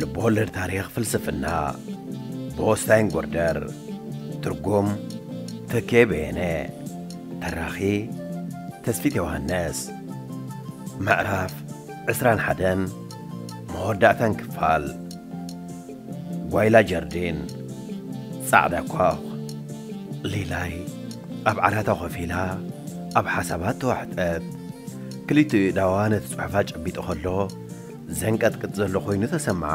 ልብወለድ ታሪኽ ፍልስፍና ብወስታይን ጎርደር ትርጉም ተኬ በየነ ተራኺ ተስፊት ዮሃንስ ምዕራፍ ዕስራን ሓደን መወዳእታን ክፋል ጓይላ ጀርዲን ጻዕዳ ኳኽ ሊላይ ኣብ ዓራታ ኮፍ ኢላ ኣብ ሓሳባት ተዋሕጠት ክልቲኡ ኢዳዋ ነቲ ጽሑፋ ጨቢጡ ከሎ ዘንቀጥቅጥ ዘሎ ዀይኑ ተሰምዓ።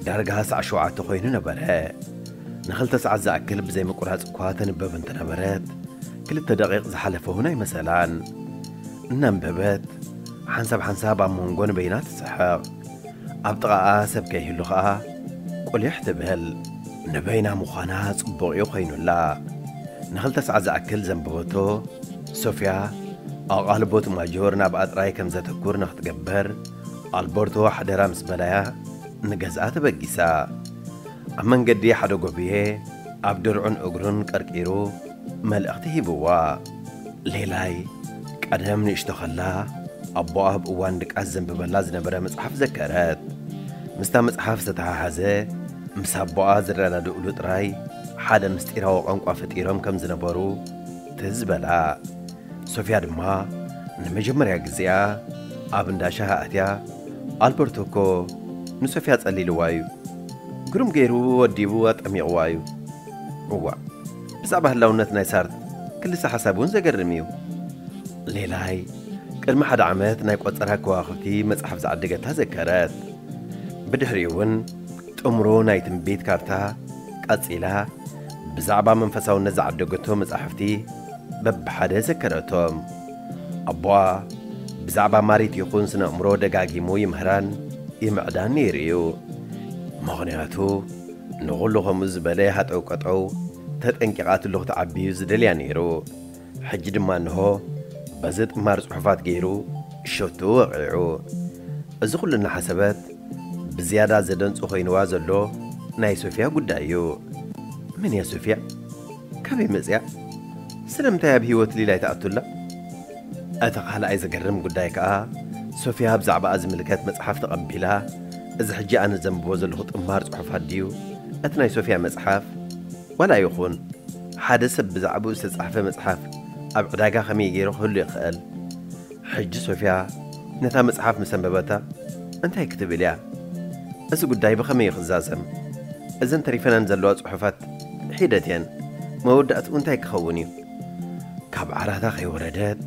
ዳርጋ ሰዓት ሸውዓተ ዀይኑ ነበረ። ንኽልተ ሰዓት ዝኣክል ብዘይ ምቍራጽ እኳ ተንበብ እንተ ነበረት፣ ክልተ ደቒቕ ዝሓለፈ እውን ኣይመሰላን። እናንበበት፣ ሓንሳብ ሓንሳብ ኣብ መንጎ ንበይና ትስሕቕ። ኣብ ጥቓኣ ሰብ ከይህሉ ኸኣ ቍሊሕ ትብል። ንበይና ምዃና ጽቡቕ እዩ ዀይኑላ። ንኽልተ ሰዓት ዝኣክል ዘንበበቶ፣ ሶፍያ ኣቓልቦ እቲ ማጆር ናብኣ ጥራይ ከም ዘተኩር ንኽትገብር ኣልበርቶ ሓደራ ምስ በላያ ንገዝኣ ተበጊሳ። ኣብ መንገዲ ሓደ ጎብየ ኣብ ድርዑን እግሩን ቀርቂሩ መልእኽቲ ሂብዋ። ሌላይ ቀደም ንእሽቶ ከላ ኣቦኣ ኣብ እዋን ድቃስ ዘንብበላ ዝነበረ መጽሓፍ ዘከረት። ምስታ መጽሓፍ ዝተተሓሓዘ ምስ ኣቦኣ ዝረዳድእሉ ጥራይ ሓደ ምስጢራዊ ቋንቋ ፈጢሮም ከም ዝነበሩ፣ ትዝ በላ። ሶፍያ ድማ ንመጀመርያ ግዜኣ ኣብ እንዳ ሻሂ ኣትያ ኣልበርቶ እኮ ንሶፍያ ጸሊልዋ እዩ፣ ግሩም ገይሩ ወዲቡ ኣጠሚቕዋ እዩ። እዋእ ብዛዕባ ህላውነት ናይ ሳርት ክልሰ ሓሳብ እውን ዘገርም እዩ። ሌላይ ቅድሚ ሓደ ዓመት ናይ ቆጸራ ከዋኽብቲ መጽሓፍ ዝዓደገታ ዘከረት። ብድሕሪኡ እውን ጥምሮ ናይ ትንቢት ካርታ ቀጺላ ብዛዕባ መንፈሳውነት ዝዓደገቶ መጻሕፍቲ በብሓደ ዘከረቶም። ኣቦኣ ብዛዕባ ማሪት ይኹን ስነ ኣእምሮ ደጋጊሙ ይምህራን ይምዕዳን ነይሩ እዩ። ምኽንያቱ ንኹሉ ከምኡ ዝበለ ሃጠውቀጠው ተጠንቂቓትሉ ክትዓቢ እዩ ዝደልያ ነይሩ። ሕጂ ድማ እንሆ በዚ ጥማር ጽሑፋት ገይሩ ሸቶ ወቒዑ። እዚ ኩሉ እናሓሰበት ብዝያዳ ዘደንጹ ኮይንዋ ዘሎ ናይ ሶፍያ ጉዳይ እዩ። መን እያ ሶፍያ? ካበይ መጺኣ? ስለምንታይ ኣብ ህይወት ሊላይ ትኣቱ ኣላ? እቲ ካልኣይ ዘገርም ጉዳይ ከኣ ሶፍያ ብዛዕባኣ ዝምልከት መጽሓፍ ተቐቢላ እዚ ሕጂ ኣነ ዘንብቦ ዘለኹ ጥማር ጽሑፋት ድዩ እቲ ናይ ሶፍያ መጽሓፍ? ዋላ ይኹን ሓደ ሰብ ብዛዕባኡ ዝተጻሕፈ መጽሓፍ ኣብ ዕዳጋ ከመይ ገይሩ ክህሉ ይኽእል? ሕጂ ሶፍያ ነታ መጽሓፍ ምስ ኣንበበታ እንታይ ክትብል እያ? እዚ ጕዳይ ብኸመይ እዩ ክዛዘም? እዘን ተሪፈናን ዘለዋ ጽሑፋት ሒደት እየን፣ መወዳእትኡ እንታይ ክኸውን እዩ? ካብ ዓራታ ከይወረደት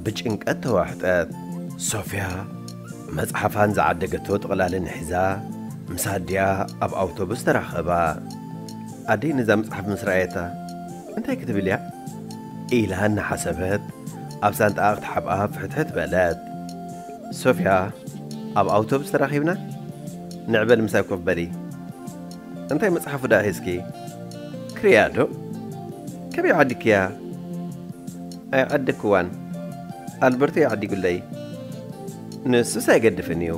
ብጭንቀት ተዋሕጠት። ሶፍያ መጽሓፋን ዝዓደገቶ ጥቕላልን ሒዛ ምስ ኣዲኣ ኣብ ኣውቶቡስ ተራኸባ። ኣደይ ነዛ መጽሓፍ ምስ ረኣየታ፣ እንታይ ክትብል እያ? ኢላ እናሓሰበት ኣብ ሳንጣኣ ክትሓብኣ ፍሕትሕት በለት። ሶፍያ፣ ኣብ ኣውቶቡስ ተራኺብና? ንዕበል ምሳይ ኮፍ በሊ። እንታይ መጽሓፉ ደኣ ሒዝኪ? ክርእያዶ? ከመይ ዓዲክያ? ኣይዓደክዋን ኣልበርቶ እዩ ዓዲጉለይ ንሱስ ኣይገድፍን እዩ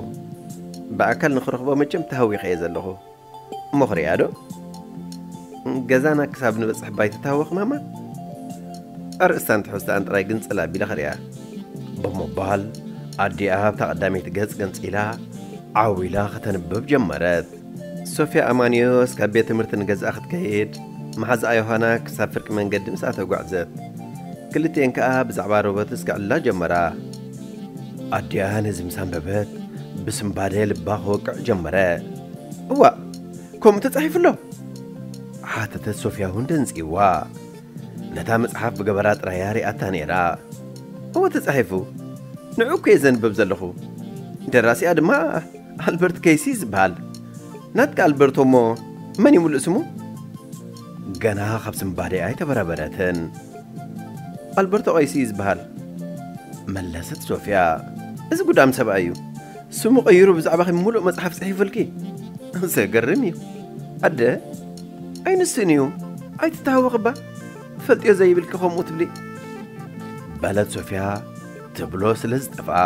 ብኣካል ንክረኽቦ መቸም ተሃዊኸ እየ ዘለኹ እሞ ክሪኣ ዶ ገዛና ክሳብ ንበጽሕ ባይ ትታወኽ ማማ ኣርእስታን ትሕዝትኣን ጥራይ ግንጽል ኣቢለ ክሪኣ ብምባል ኣዲኣ ኣብታ ቀዳመይቲ ገጽ ገንጺላ ዓው ኢላ ከተንብብ ጀመረት ሶፍያ ኣማንዮስ ካብ ቤት ትምህርቲ ንገዝኣ ክትከይድ፣ መሓዝኣ ዮሃና ክሳብ ፍርቂ መንገዲ ምስኣ ተጓዕዘት። ክልቲኤን ከኣ ብዛዕባ ሮበትስ ክዕልላ ጀመራ። ኣዲኣ ነዚ ምስ ኣንበበት ብስምባደ ልባ ክወቅዕ ጀመረ። እዋእ! ከምኡ ተጻሒፉ ኣሎ? ሓተተት ሶፍያ እውን ደንጽዩዋ። ነታ መጽሓፍ ብገበራ ጥራይ እያ ሪኣታ ነይራ። እወ ተጻሒፉ። ንዕኡ እኮ'የ ዘንብብ ዘለኹ። ደራሲኣ ድማ ኣልበርት ከይሲ ዝብሃል ናትካ ኣልበርቶ እሞ መን እዩ ምሉእ ስሙ? ገና ካብ ስንባደኣ ኣይተበረበረትን። ኣልበርቶ ቀይሲ እዩ ዝብሃል። መለሰት ሶፍያ። እዚ ጉዳም ሰብኣይ እዩ። ስሙ ቀይሩ ብዛዕባኺ ምሉእ መጽሓፍ ጽሒፉልኪ። ዘገርም እዩ። ኣደ ኣይንስን እዩ። ኣይትተሃወኺ እባ ትፈልጥዮ ዘይብልኪ ከምኡ ትብሊ። በለት ሶፍያ ትብሎ ስለ ዝጠፍኣ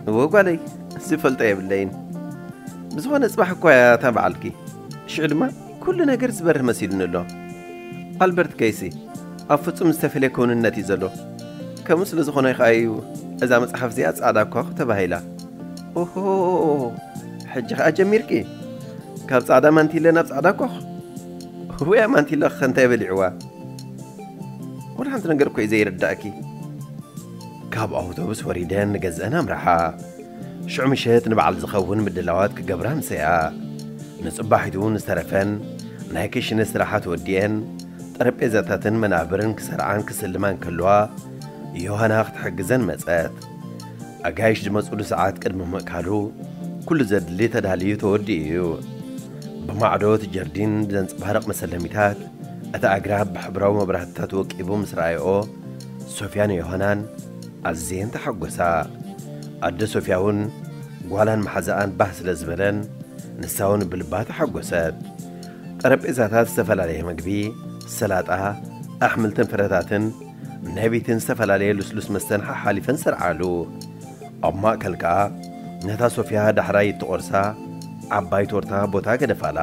እወ ጓለይ ዝፈልጦ የብለይን ብዝኾነ ጽባሕ እኳ እያ እታ በዓልኪ ሽዑ ድማ ኩሉ ነገር ዝበርህ መሲሉኒ ኣሎ ኣልበርት ከይሲ ኣብ ፍጹም ዝተፈልየ ክውንነት እዩ ዘሎ ከምኡ ስለ ዝኾነ ከኣ እዩ እዛ መጽሓፍ እዚኣ ጻዕዳ ኳኹ ተባሂላ ኦሆ ሕጂ ከኣ ጀሚርኪ ካብ ጻዕዳ ማንቲለ ናብ ጻዕዳ ኳኹ ውያ ማንቲለ ከ እንታይ በሊዕዋ ወላ ሓንቲ ነገር እኮ እዩ ዘይርዳእኪ ካብ ኣውቶቡስ ወሪደን ንገዝአን ኣምርሓ ሽዑ ምሸት ንበዓል ዝኸውን ምድላዋት ክገብራ ኣምሰያ ንጽባሒቱ ንዝተረፈን ናይ ክሽነ ስራሓት ወዲኤን ጠረጴዛታትን መናብርን ክሰርዓን ክስልማን ከለዋ ዮሃና ክትሕግዘን መጸት ኣጋይሽ ዝመጹሉ ሰዓት ቅድሚ ምእካሉ ኩሉ ዘድሊ ተዳልዩ ተወዲኡ እዩ። ብማዕዶ እቲ ጀርዲን ብዘንጸባርቕ መሰለሚታት እቲ ኣግራብ ብሕብራዊ መብራህትታት ወቂቡ ምስ ረኣየኦ ሶፍያን ዮሃናን ኣዝየን ተሓጎሳ። ኣደ ሶፍያ እውን ጓላን መሓዛኣን ባህ ስለ ዝበለን ንሳ እውን ብልባ ተሓጎሰት። ጠረጴዛታት ዝተፈላለየ መግቢ፣ ሰላጣ፣ ኣሕምልትን ፍረታትን፣ ናይ ቤተን ዝተፈላለየ ልስሉስ መስተን ሓሓሊፈን ሰርዓሉ። ኣብ ማእከል ከኣ ነታ ሶፍያ ዳሕራይ እትቖርሳ ዓባይ ቶርታ ቦታ ገደፋላ።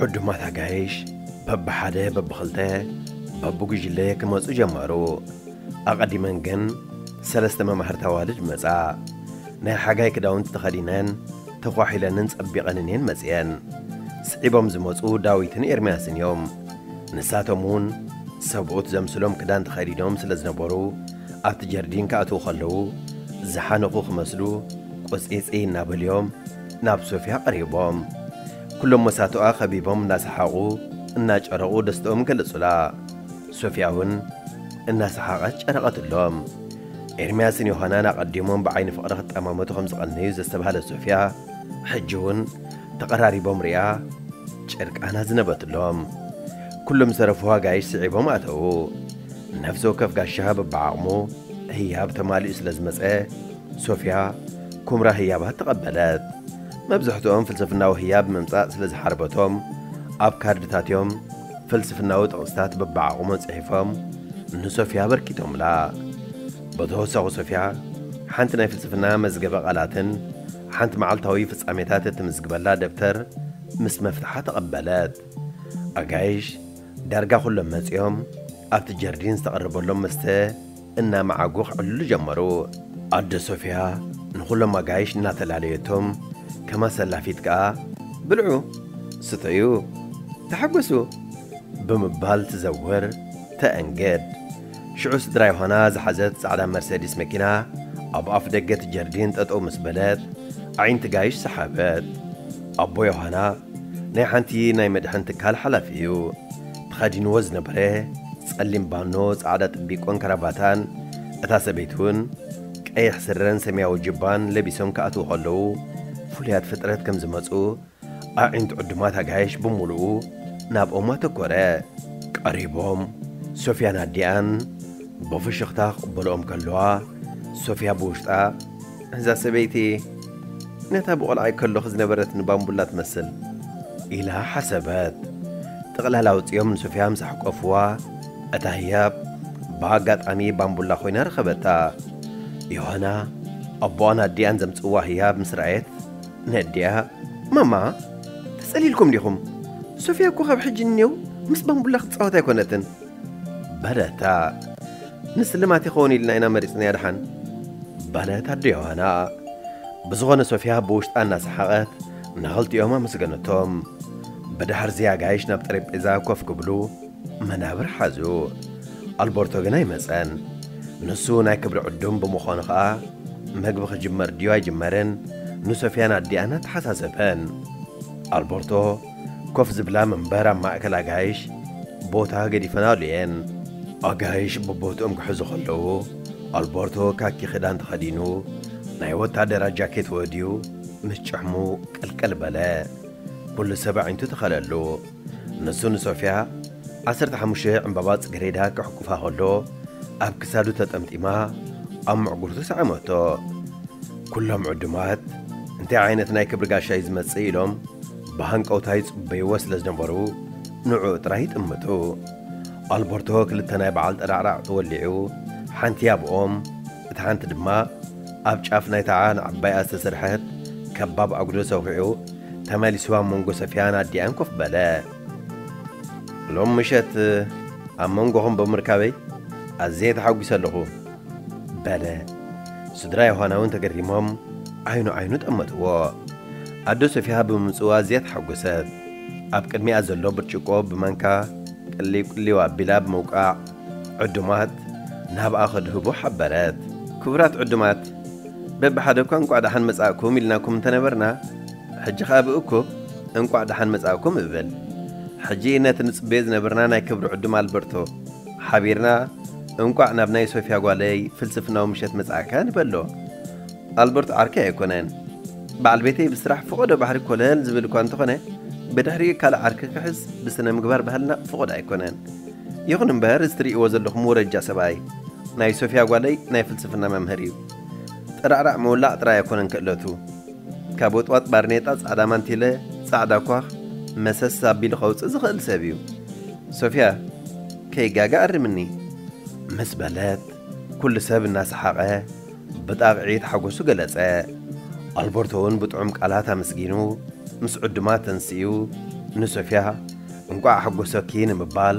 ዕዱማት ኣጋይሽ በብሓደ በብኽልተ በብጉጅለ ክመጹ ጀመሩ። ኣቐዲመን ግን ሰለስተ መማህርት ኣዋልድ መጻ። ናይ ሓጋይ ክዳውንቲ ተኸዲነን ተኳሒለንን ጸቢቐንን እየን መጺኤን። ስዒቦም ዝመጹ ዳዊትን ኤርምያስን እዮም። ንሳቶም እውን ሰብኡት ዘምስሎም ክዳን ተኸዲኖም ስለ ዝነበሩ፣ ኣብቲ ጀርዲን ክኣትዉ ከለዉ፣ ዝሓነኹ ክመስሉ ቁጽይጽይ እናበሉ'ዮም ናብ ሶፍያ ቀሪቦም። ኩሎም መሳቱኣ ከቢቦም እናሰሓቑ እናጨረቑ ደስትኦም ገለጹላ። ሶፍያ'ውን እናሰሓቐት ጨረቐትሎም። ኤርምያስን ዮሃናን ኣቐዲሞም ብዓይኒ ፍቕሪ ክጠማመቱ ከም ዝቐነዩ ዘስተብሃለት ሶፍያ፣ ሕጂ'ውን ተቐራሪቦም ርእያ፣ ጭርቃን ኣዝነበትሎም። ኩሎም ዝተረፉ ኣጋይሽ ስዒቦም ኣተዉ። ነፍሲ ወከፍ ጋሻ በብዓቕሙ ህያብ ተማሊኡ ስለ ዝመጸ፣ ሶፍያ ኩምራ ህያባት ተቐበለት። መብዝሕትኦም ፍልስፍናዊ ህያብ ምምጻእ ስለ ዝሓርበቶም፣ ኣብ ካርድታት'ዮም ፍልስፍናዊ ጥቕስታት በብዓቕሞም ጽሒፎም ንሶፍያ ኣበርኪቶምላ። ብተወሳኺ ሶፍያ ሓንቲ ናይ ፍልስፍና መዝገበ ቃላትን ሓንቲ መዓልታዊ ፍጻሜታት እትምዝግበላ ደብተር ምስ መፍትሓ ተቐበለት። ኣጋይሽ ዳርጋ ኩሎም መጺኦም ኣብቲ ጀርዲን ዝተቐረበሎም መስተ እናመዓጉ ክዕልሉ ጀመሩ። ኣደ ሶፍያ ንኹሎም ኣጋይሽ እናተላለየቶም ከም ኣሰላፊት ከኣ ብልዑ፣ ስተዩ፣ ተሓጎሱ ብምባል ትዘውር፣ ተእንግድ። ሽዑ ስድራ ዮሃና ዝሓዘት ጻዕዳ መርሰዲስ መኪና ኣብ ኣፍ ደገ እቲ ጀርዲን ጠጠው ምስ በለት ኣዒንቲ ጋይሽ ሰሓበት። ኣቦ ዮሃና ናይ ሓንቲ ናይ መድሕን ትካል ሓላፊ እዩ። ተኸዲንዎ ዝነበረ ጸሊም ባኖ፣ ጻዕዳ ጥቢቆን ከራባታን እታ ሰበይቲ እውን ቀይሕ ስረን ሰማያዊ ጁባን ለቢሶም ክኣትዉ ከለዉ ፍሉያት ፍጥረት ከም ዝመጹ ኣዒንቲ ዕዱማት ኣጋይሽ ብምሉኡ ናብኦም ኣተኮረ። ቀሪቦም ሶፍያን ኣዲኣን ብፍሽኽታ ክቕበልኦም ከለዋ፣ ሶፍያ ብውሽጣ፣ እዛ ሰበይቲ ነታ ብቖልዓይ ከለኹ ዝነበረትኒ ባምቡላ ትመስል ኢላ ሓሰበት። ጥቕላል ኣውጺኦም ንሶፍያ ምስ ኣሕቆፍዋ፣ እታ ህያብ ብኣጋጣሚ ባምቡላ ኮይና ረኸበታ። ዮሃና ኣቦኣን ኣዲኣን ዘምጽእዋ ህያብ ምስ ረኣየት ነድያ ማማ ተጸሊልኩም ዲኹም ሶፍያ እኮ ካብ ሕጂ ንኔው ምስ ባምቡላ ክትጻወት ኣይኮነትን በለታ ንስልማት ይኸውን ኢልና ኢና መሪጽናያ ደሓን በለት ኣዶ ዮሃና ብዝኾነ ሶፍያ ብውሽጣ እናሰሓቐት ንኸልቲኦም ኣመስገነቶም ብድሕርዚ ኣጋይሽ ናብ ጠረጴዛ ኮፍ ክብሉ መናብር ሓዙ። ኣልበርቶ ግን ኣይመጸን። ንሱ ናይ ክብሪ ዕዱም ብምዃኑ ኸኣ መግቢ ክጅመር ድዩ ኣይጅመርን ንሶፍያን ኣዲኣን ኣተሓሳሰበን። ኣልበርቶ ኮፍ ዝብላ መንበር ኣብ ማእከል ኣጋይሽ ቦታ ገዲፈናሉ እየን። ኣጋይሽ ቦቦትኦም ክሕዙ ከለዉ ኣልበርቶ ካኪ ክዳን ተኸዲኑ ናይ ወታደራት ጃኬት ወድዩ ምስ ጭሕሙ ቀልቀል በለ። ኩሉ ሰብ ኣዒንቱ ተኸለሉ። ንሱ ንሶፍያ ዓሰርተ ሓሙሽተ ዕምባባ ጽጌሬዳ ከሕቁፋ ከሎ ኣብ ክሳዱ ተጠምጢማ ኣብ ምዕጉርቱ ሰዐመቶ። ኩሎም ዕዱማት እንታይ ዓይነት ናይ ክብሪ ጋሻ እዩ ዝመጽእ ኢሎም ብሃንቀውታ ይጽበይዎ ስለ ዝነበሩ ንዕኡ ጥራይ ይጥምቱ። ኣልበርቶ ክልተ ናይ በዓል ጠራዕራዕቲ ወሊዑ ሓንቲ ኣብኦም እታ ሓንቲ ድማ ኣብ ጫፍ ናይታ ዓን ዓባያ ዝተሰርሐት ከባብ ኣጉዶ ሰዂዑ ተመሊሱ ኣብ መንጎ ሰፊያን ኣዲኣን ኮፍ በለ። ሎም ምሸት ኣብ መንጎኹም ብምርካበይ ኣዝየ ተሓጒሰ ኣለኹ። በለ። ስድራ ዮሃና እውን ተገሪሞም ዓይኑ ዓይኑ ጠመትዎ። ኣዶ ሶፊያ ብምምጽኡ ኣዝያ ተሓጐሰት። ኣብ ቅድሚኣ ዘሎ ብርጭቆ ብማንካ ቅልው ቅልው ኣቢላ ብምውቃዕ ዕዱማት ናብኣ ከድህቡ ሓበረት። ክቡራት ዕዱማት፣ በብሓደ'ኳ እንቋዕ ደሓን መጻእኩም ኢልናኩም እንተ ነበርና፣ ሕጂ ኸኣ ብእኩብ እንቋዕ ደሓን መጻእኩም እብል። ሕጂ ነቲ ንጽበዮ ዝነበርና ናይ ክብሪ ዕዱም ኣልበርቶ ሓቢርና እንቋዕ ናብ ናይ ሶፍያ ጓለይ ፍልስፍናዊ ምሸት መጻእካ ንበሎ። ኣልበርቶ ዓርከይ ኣይኮነን። በዓል ቤተይ ብስራሕ ፍቖዶ ባሕሪ ኮለል ዝብል'ኳ እንተኾነ፣ ብድሕሪኡ ካልእ ዓርኪ ክሕዝ ብስነ-ምግባር ባህልና ፍቑድ ኣይኮነን። ይኹን እምበር እዚ ትርእይዎ ዘለኹም ወረጃ ሰብኣይ ናይ ሶፍያ ጓለይ ናይ ፍልስፍና መምህር እዩ። ጠራዕራዕ ምውላዕ ጥራይ ኣይኮነን ክእለቱ። ካብ ወጥዋጥ ባርኔጣ ጻዕዳ ማንቲለ ጻዕዳ ኳኽ መሰስ ኣቢሉ ከውጽእ ዝኽእል ሰብ እዩ። ሶፍያ ከይጋገ ኣርምኒ። ምስ በለት ኩሉ ሰብ እናሰሓቐ። ብጣቕዒት ሓጎሱ ገለጸ። ኣልበርቶ'ውን ብጥዑም ቃላት ኣመስጊኑ ምስ ዕዱማት ተንሲኡ ንሶፍያ እንቋዕ ኣሕጎሰኪ ንምባል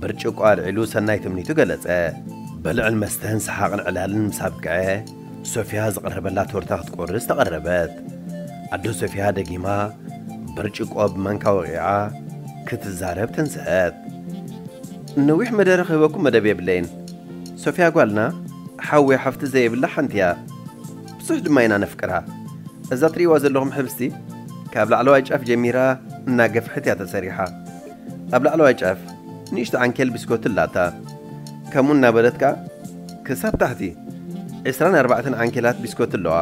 ብርጭቆ ኣልዒሉ ሰናይ ትምኒቱ ገለጸ። ብልዕን መስተን ሰሓቕን ዕላልን ምስ ኣብቅዐ ሶፍያ ዝቐረበላ ቶርታ ክትቆርስ ተቐረበት። ኣደ ሶፍያ ደጊማ ብርጭቆ ብማንካ ወቒዓ ክትዛረብ ተንስአት። ነዊሕ መደረ ክህበኩም መደብ የብለይን። ሶፍያ ጓልና ሓውያ ሓፍቲ ዘየብላ ሓንቲ እያ ብዙሕ ድማ ኢና ነፍቅራ እዛ ትሪእዋ ዘለኹም ሕብስቲ ካብ ላዕለዋይ ጫፍ ጀሚራ እናገፍሐት እያ ተሰሪሓ ኣብ ላዕለዋይ ጫፍ ንእሽቲ ዓንኬል ብስኮቲ ኣላታ ከምኡ እናበለት ከኣ ክሳብ ታሕቲ ዕስራን ኣርባዕተን ዓንኬላት ቢስኮቲ ኣለዋ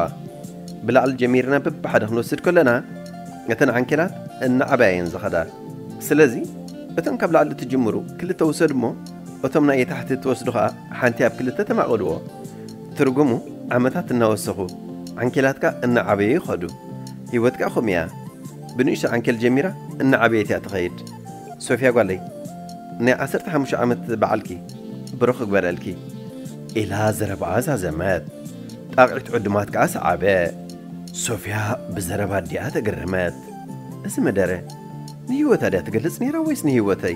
ብላዕሊ ጀሚርና በብሓደ ክንወስድ ከለና እተን ዓንኬላት እናዓበያ እየን ዝኸዳ ስለዚ እቶም ካብ ላዕሊ ትጅምሩ ክልተ ውሰዱ እሞ እቶም ናይ የታሕቲ እትወስዱ ከኣ ሓንቲ ኣብ ክልተ ተማቐልዎ። ትርጉሙ ዓመታት እናወሰኹ ዓንኬላትካ እናዓበዩ ይኸዱ። ህይወት ከኣ ከምኡ እያ። ብንእሽቶ ዓንኬል ጀሚራ እናዓበየት እያ ትኸይድ። ሶፍያ ጓለይ ናይ ዓሰርተ ሓሙሽተ ዓመት በዓልኪ ብሩኽ ክግበረልኪ። ኢላ ዘረባኣ ዛዘመት። ጣቕዒት ዕዱማት ከኣ ሰዓበ። ሶፍያ ብዘረባ ኣዲኣ ተገረመት። እዚ መደረ ንህይወታ ድያ ትገልጽ ነይራ ወይስ ንህይወተይ?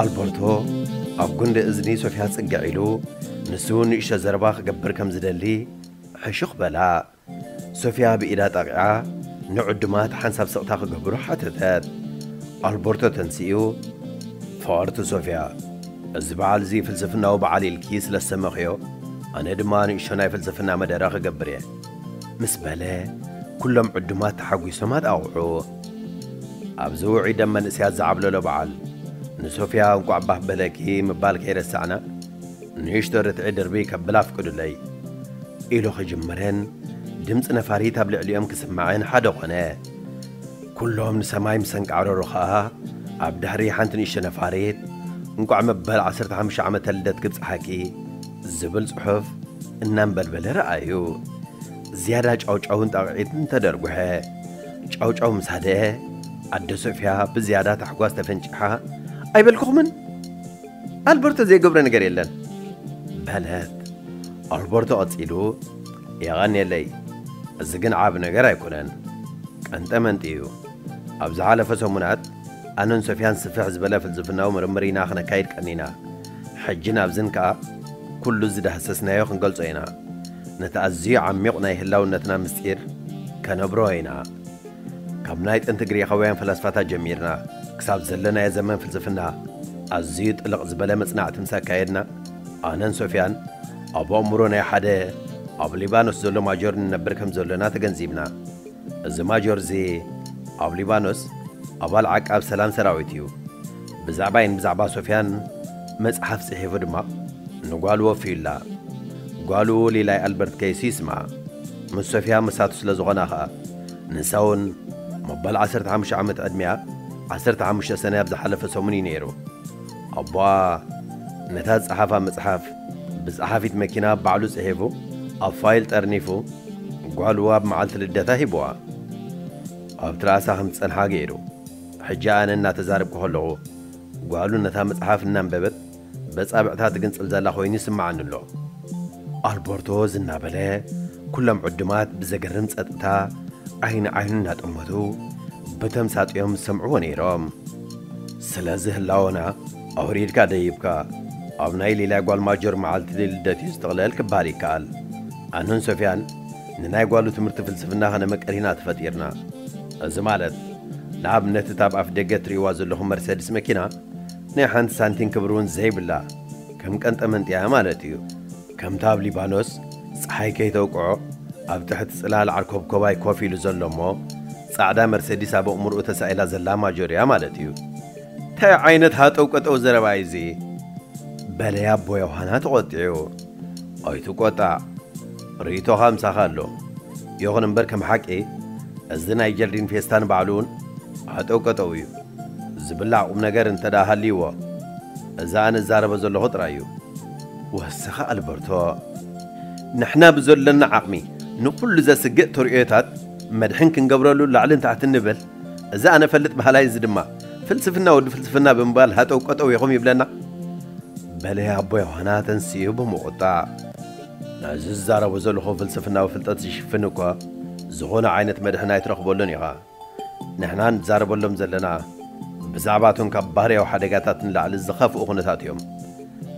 ኣልበርቶ ኣብ ጉንዲ እዝኒ ሶፍያ ጽግዕ ኢሉ ንሱ ንእሽቶ ዘረባ ክገብር ከም ዝደሊ ሕሹኽ በላ። ሶፍያ ብኢዳ ጠቒዓ ንዕዱማት ሓንሳብ ስቕታ ክገብሩ ሓተተት። ኣልበርቶ ተንሲኡ፣ ፍቕርቲ ሶፍያ፣ እዚ በዓል እዚ ፍልስፍናዊ በዓል ኢልኪ ስለ ዝሰመኽዮ ኣነ ድማ ንእሽቶ ናይ ፍልስፍና መደረ ክገብር እየ ምስ በለ ኩሎም ዕዱማት ተሓጒሶም ኣጣቕዑ። ኣብዚ ውዑይ ደም መንእሰያት ዝዓብለሎ በዓል፣ ንሶፍያ እንቋዕ ባህ በለኪ ምባል ከይረሳዕና፣ ንእሽቶ ርትዒ ድርብይ ከብል ኣፍቅዱለይ። ኢሉ ክጅምርን ድምጺ ነፋሪት ኣብ ልዕሊኦም ክስማዕን ሓደ ኮነ። ኩሎም ንሰማይ ምስ ኣንቃዕረሩ ከኣ፣ ኣብ ድሕሪ ሓንቲ ንእሽቶ ነፋሪት፣ እንቋዕ መበል ዓሰርተ ሓሙሽተ ዓመተ ልደት ክብጽሓኪ ዝብል ጽሑፍ እናንበልበለ ረኣዩ። ዝያዳ ጫውጫውን ጣቕዒትን ተደርጕሐ። ጫውጫው ምስ ሃደኣ፣ ኣደ ሶፍያ ብዝያዳ ታሕጓስ ተፈንጪሓ፣ ኣይበልኩኹምን? ኣልበርቶ ዘይገብሮ ነገር የለን! በለት። ኣልበርቶ ቀጺሉ፣ የቐንየለይ፣ እዚ ግን ዓቢ ነገር ኣይኰነን። ቀንጠመንጢ እዩ። ኣብ ዝሓለፈ ሰሙናት፣ ኣነን ሶፍያን ስፍሕ ዝበለ ፍልስፍናዊ ምርምር ኢና ኽነካይድ ቀኒና። ሕጅን ኣብዝን ከኣ ኩሉ ዝዳህሰስናዮ ክንገልጾ ኢና። ነቲ ኣዝዩ ዓሚቝ ናይ ህላውነትና ምስጢር ከነብርሆ ኢና። ካብ ናይ ጥንቲ ግሪኻውያን ፈላስፋታት ጀሚርና ክሳብ ዘለናዮ ዘመን ፍልስፍና ኣዝዩ ጥልቕ ዝበለ መጽናዕቲ ምስ ኣካየድና፣ ኣነን ሶፍያን ኣብ ኣእምሮ ናይ ሓደ ኣብ ሊባኖስ ዘሎ ማጆር ንነብር ከም ዘሎና ተገንዚብና። እዚ ማጆር'ዚ ኣብ ሊባኖስ ኣባል ዓቃብ ሰላም ሰራዊት እዩ። ብዛዕባይን ብዛዕባ ሶፍያን መጽሓፍ ጽሒፉ ድማ ንጓሉ ወፍዩላ። ጓሉ ሊላይ ኣልበርት ከይሲ ይስማ። ምስ ሶፍያ መሳቱ ስለ ዝኾና ኸኣ ንሳውን መበል ዓሰርተ ሓሙሽተ ዓመት ዕድሚኣ ዓሰርተ ሓሙሽተ ሰነ ኣብ ዝሓለፈ ሰሙን እዩ ነይሩ። ኣቦኣ ነታ ዝጸሓፋ መጽሓፍ ብጸሓፊት መኪና ባዕሉ ጽሒፉ ኣብ ፋይል ጠርኒፉ ጓሉ ኣብ መዓልቲ ልደታ ሂቡዋ ኣብ ትርኣሳ ከም ትጸንሓ ገይሩ። ሕጂ ኣነ እናተዛረብኩ ከለኹ፣ ጓሉ ነታ መጽሓፍ እናንበበት በጻብዕታ ትግንጽል ዘላ ኮይኑ ይስምዓኒ ኣሎ። ኣልበርቶ ዝናበለ፣ ኩሎም ዕዱማት ብዘገርም ጸጥታ ዓይኒ ንዓይኑ እናጠመቱ ብተምሳጥ'ዮም ዝሰምዕዎ ነይሮም። ስለዚ ህላወና ኣውሪድካ ደይብካ፣ ኣብ ናይ ሊልያ ጓል ማጆር መዓልቲ ልደት'ዩ ዝጥቕለል ክበሃል ይከኣል። ኣነን ሶፍያን ንናይ ጓሉ ትምህርቲ ፍልስፍና ከነመቅር ኢና ተፈጢርና። እዚ ማለት ንኣብነት እታ ኣብ ኣፍደገ እትርእይዋ ዘለኹም መርሰድስ መኪና ናይ ሓንቲ ሳንቲም ክብሪ እውን ዘይብላ ከም ቀንጠመንጢ እያ ማለት እዩ። ከምቲ ኣብ ሊባኖስ ጸሓይ ከይተውቅዖ ኣብ ትሕቲ ጽላል ዓርኮብኮባይ ኮፍ ኢሉ ዘሎ እሞ ጻዕዳ መርሰዲስ ኣብ ኣእምሮኡ ተሳኢላ ዘላ ማጆር እያ ማለት እዩ። እንታይ ዓይነት ሃጠውቀጠው ዘረባ እዩ እዚ? በለ ኣቦ ዮሃና ተቖጢዑ። ኣይትቆጣዕ ርኢቶኻ ምሳኻ ኣሎ ይኹን እምበር ከም ሓቂ እዚ ናይ ጀርዲን ፌስታ ንባዕሉ እውን ሃጠው ቀጠው እዩ ዝብላዕ ቁም ነገር እንተ ደኣ ሃልይዎ እዚ ኣነ እዛረቦ ዘለኹ ጥራይ እዩ ወስኸ ኣልበርቶ ንሕና ብዘሎና ዓቕሚ ንኹሉ ዘስግእ ተርእዮታት መድሕን ክንገብረሉ ላዕልን ታሕትን ንብል እዚ ኣነ እፈልጥ በሃላይ እዚ ድማ ፍልስፍና ወዲ ፍልስፍና ብምባል ሃጠው ቀጠው ኢኹም ይብለና። በለ ኣቦ ዮሃና ተንሲኡ ብምቝጣዕ። ነዚ ዝዛረቦ ዘለኹ ፍልስፍናዊ ፍልጠት ዝሽፍን እኳ ዝኾነ ዓይነት መድሕን ኣይትረኽበሉን ኢኻ። ንሕና ንዛረበሎም ዘለና ብዛዕባ እቶም ካብ ባህርያዊ ሓደጋታት ንላዕሊ ዝኸፍኡ ኩነታት እዮም።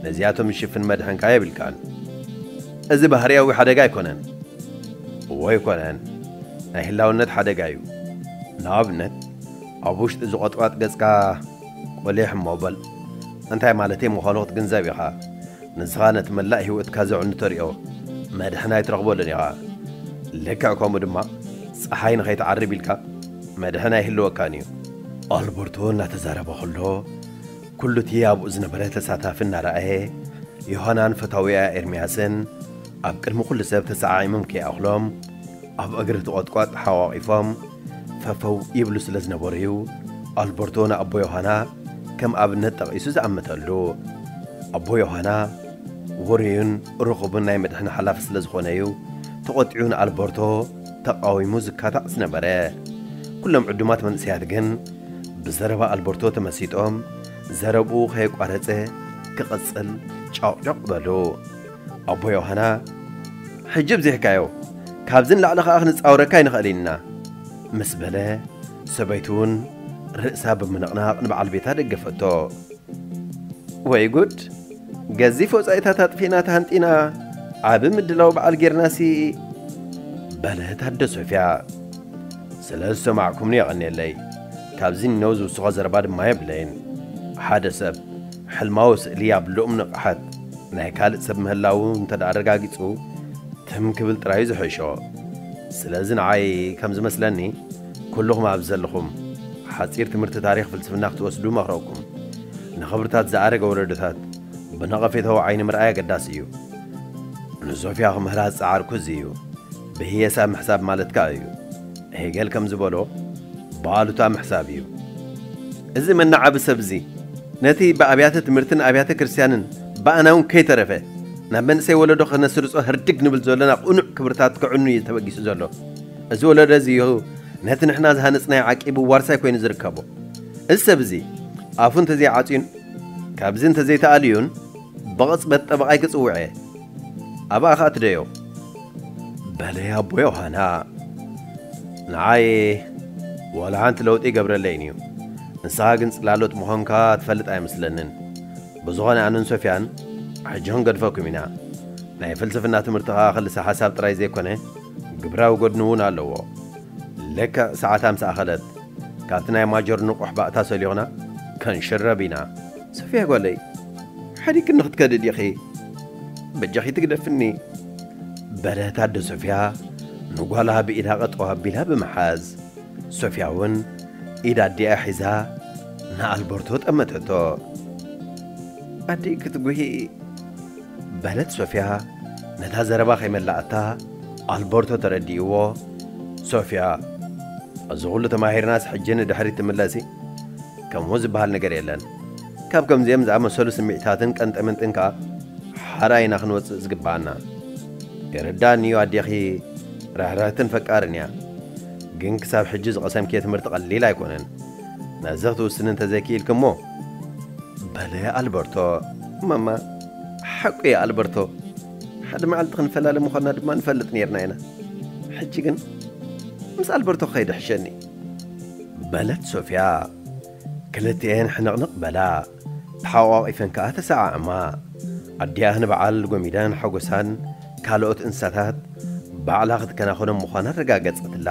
ነዚኣቶም ዝሽፍን መድሕን ከኣ የብልካን። እዚ ባህርያዊ ሓደጋ ኣይኮነን። እዎ ኣይኮነን፣ ናይ ህላውነት ሓደጋ እዩ። ንኣብነት፣ ኣብ ውሽጢ እዚ ቆጥቋጥ ገጽካ ቁሊሕ እሞ በል። እንታይ ማለተይ ምዃኑ ክትግንዘብ ኢኻ። ንስኻ ነቲ መላእ ህይወትካ ዘዕኑ ተርእዮ መድሕን ኣይትረኽበሉን ኢኻ። ልክዕ ከምኡ ድማ ጸሓይ ንኸይትዓርብ ኢልካ መድሕን ኣይህልወካን እዩ። ኣልበርቶ እናተዛረበ ከሎ፣ ኩሉ እቲ ኣብኡ ዝነበረ ተሳታፊ እናረኣየ፣ ዮሃናን ፈታዊኣ ኤርምያስን ኣብ ቅድሚ ኩሉ ሰብ ተሰዓዒሞም ከይኣኽሎም ኣብ እግሪ እቲ ቖጥቋጥ ተሓቛቒፎም ፈፈው ይብሉ ስለ ዝነበሩ እዩ ኣልበርቶ ንኣቦ ዮሃና ከም ኣብነት ጠቒሱ ዝኣመተሉ። ኣቦ ዮሃና ውሩይን ርኹብን ናይ መድሕን ሓላፊ ስለ ዝኾነ እዩ ተቖጢዑ ንኣልበርቶ ተቓዊሙ ዝካታዕ ዝነበረ። ኩሎም ዕዱማት መንእሰያት ግን ብዘረባ ኣልበርቶ ተመሲጦም ዘረብኡ ከየቋረጸ ክቕጽል ጫቝጫቝ በሉ። ኣቦ ዮሃና ሕጂ ብዚሕካዮ ካብዚ ንላዕሊ ከኣ ክንጻወረካ ኣይንኽእልን ኢና ምስ በለ ሰበይቱ'ውን ርእሳ ብምንቕናቕ ንበዓል ቤታ ደገፈቶ። ወይ ጉድ! ገዚፍ ወጻኢታት ኣጥፊእና ተሃንጢና ዓቢ ምድላው በዓል ጌርናሲ በለት ኣደ ሶፍያ ስለ ዝሰማዕኩምኒ የቐንየለይ ካብዚ ንነው ዝውስኾ ዘረባ ድማ የብለይን ሓደ ሰብ ሕልማዊ ስእሊ ኣብ ልኡም ንቕሓት ናይ ካልእ ሰብ ምህላው እንተ ደኣ ኣረጋጊጹ ትም ክብል ጥራዩ ዝሕሾ ስለዚ ንዓይ ከም ዝመስለኒ ኩሉኹም ኣብዚ ዘለኹም ሓጺር ትምህርቲ ታሪኽ ፍልስፍና ክትወስዱ እመኽረኩም። ንኽብርታት ዝኣረገ ወለዶታት ብነቐፌታዊ ዓይኒ ምርኣይ ኣገዳሲ እዩ። ንሶፍያ ክምህራ ዝጸዓርኩ እዚ እዩ። ብህየሳ ምሕሳብ ማለት ከኣ እዩ። ሄገል ከም ዝበሎ ብኣሉታ ምሕሳብ እዩ። እዚ መነዓቢ ሰብ እዚ ነቲ ብኣብያተ ትምህርትን ኣብያተ ክርስትያንን ብኣና እውን ከይተረፈ ናብ መንእሰይ ወለዶ ከነስርጾ ህርድግ ንብል ዘሎና ቅኑዕ ክብርታት ከዕኑ እዩ ተበጊሱ ዘሎ። እዚ ወለዶ እዚ እዩ ነቲ ንሕና ዝሃነጽናዮ ዓቂቡ ዋርሳይ ኮይኑ ዝርከቦ። እዚ ሰብ እዚ ኣፉ እንተዘይዓጽዩን ካብዚ እንተዘይተኣልዩን ብቕጽበት ጠበቓይ ክጽውዕ እየ። ኣብኣ ኸኣ ትደዮ። በለያ ኣቦ ዮሃና። ንዓይ ዋላ ሓንቲ ለውጢ ኣይገብረለይን እዩ። ንስኻ ግን ጽላሎት ምዃንካ ትፈልጥ ኣይመስለንን። ብዝኾነ ኣነን ሶፍያን ሕጂ ክንገድፈኩም ኢና። ናይ ፍልስፍና ትምህርቲ ኸኣ ክልሰ ሓሳብ ጥራይ ዘይኮነ፣ ግብራዊ ጎድኒ እውን ኣለዎ። ልክዕ ሰዓታ ምስ ኣኸለት፣ ካብቲ ናይ ማጆር ንቑሕ ባእታ ሰሊኹና ከንሽረብ ኢና። ሶፍያ ጓለይ፣ ሓዲግክኒ ክትከዲ ዲኺ? በጃኺ ትግደፍኒ። በለት ኣደ ሶፍያ ንጓላ ብኢዳ ቐጠው ኣቢላ ብምሓዝ። ሶፍያ እውን ኢድ ኣዲኣ ሒዛ ንኣልበርቶ ጠመተቶ። ኣዲይ ክትጉሂ? በለት ሶፍያ ነታ ዘረባ ከይመላኣታ ኣልበርቶ ተረዲእዎ ሶፍያ እዚ ኩሉ ተማሂርናስ ሕጂ ንድሕሪት ትምለሲ ከምኡ ዝበሃል ነገር የለን ካብ ከምዚኦም ዝኣመሰሉ ስምዒታትን ቀንጠመንጥን ከኣ ሓራ ኢና ክንወጽእ ዝግብኣና ይርዳእኒ እዩ ኣዴኺ ርሕርሕትን ፈቃርን እያ ግን ክሳብ ሕጂ ዝቐሰምክዮ ትምህርቲ ቀሊል ኣይኮነን ነዚ ክትውስኒ እንተ ዘይክኢልክሞ? በለ ኣልበርቶ። ማማ፣ ሓቁ እዩ ኣልበርቶ። ሓደ መዓልቲ ክንፈላለ ምዃንና ድማ ንፈልጥ ነይርና ኢና። ሕጂ ግን ምስ ኣልበርቶ ክኸይድ ይሕሸኒ። በለት ሶፍያ። ክልቲኤን ሕንቕንቕ በላ። ተሓቋቒፈን ከኣ ተሰዓዓማ። ኣዲኣ ንበዓል ጎሚዳን ሓጎሳን ካልኦት እንስሳታት ባዕላ ክትከናኸኖም ምዃና ኣረጋገጸትላ።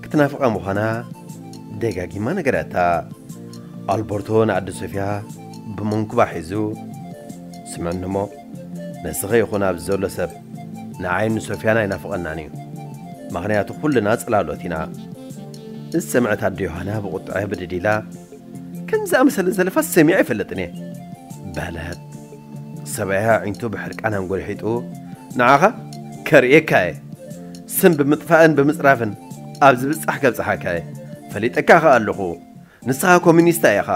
ክትናፍቓ ምዃና ደጋጊማ ነገረታ። ኣልበርቶ ንኣደ ሶፍያ ብመንኩባ ሒዙ፣ ስምዕኒ እሞ፣ ንስኺ ይኹን ኣብዚ ዘሎ ሰብ ንዓይን ንሶፍያን ኣይናፍቐናን እዩ። ምኽንያቱ ኩልና ጽላሎት ኢና። እዚ ሰምዐት ኣደ ዮሃና ብቑጥዐ ብድድ ኢላ። ከምዚ ዝኣመሰለ ዘለፋስ ሰሚዐ ኣይፈልጥን እየ። በለት። ሰብኣያ ኣዒንቱ ብሕርቃን ኣንጎልሒጡ፣ ንዓኻ ከርእየካ እየ። ስም ብምጥፋእን ብምጽራፍን ኣብ ዝብጻሕ ከብጽሓካ እየ። ፈሊጠካ ከኣ ኣለኹ። ንስኻ ኮሚኒስታ ኢኻ።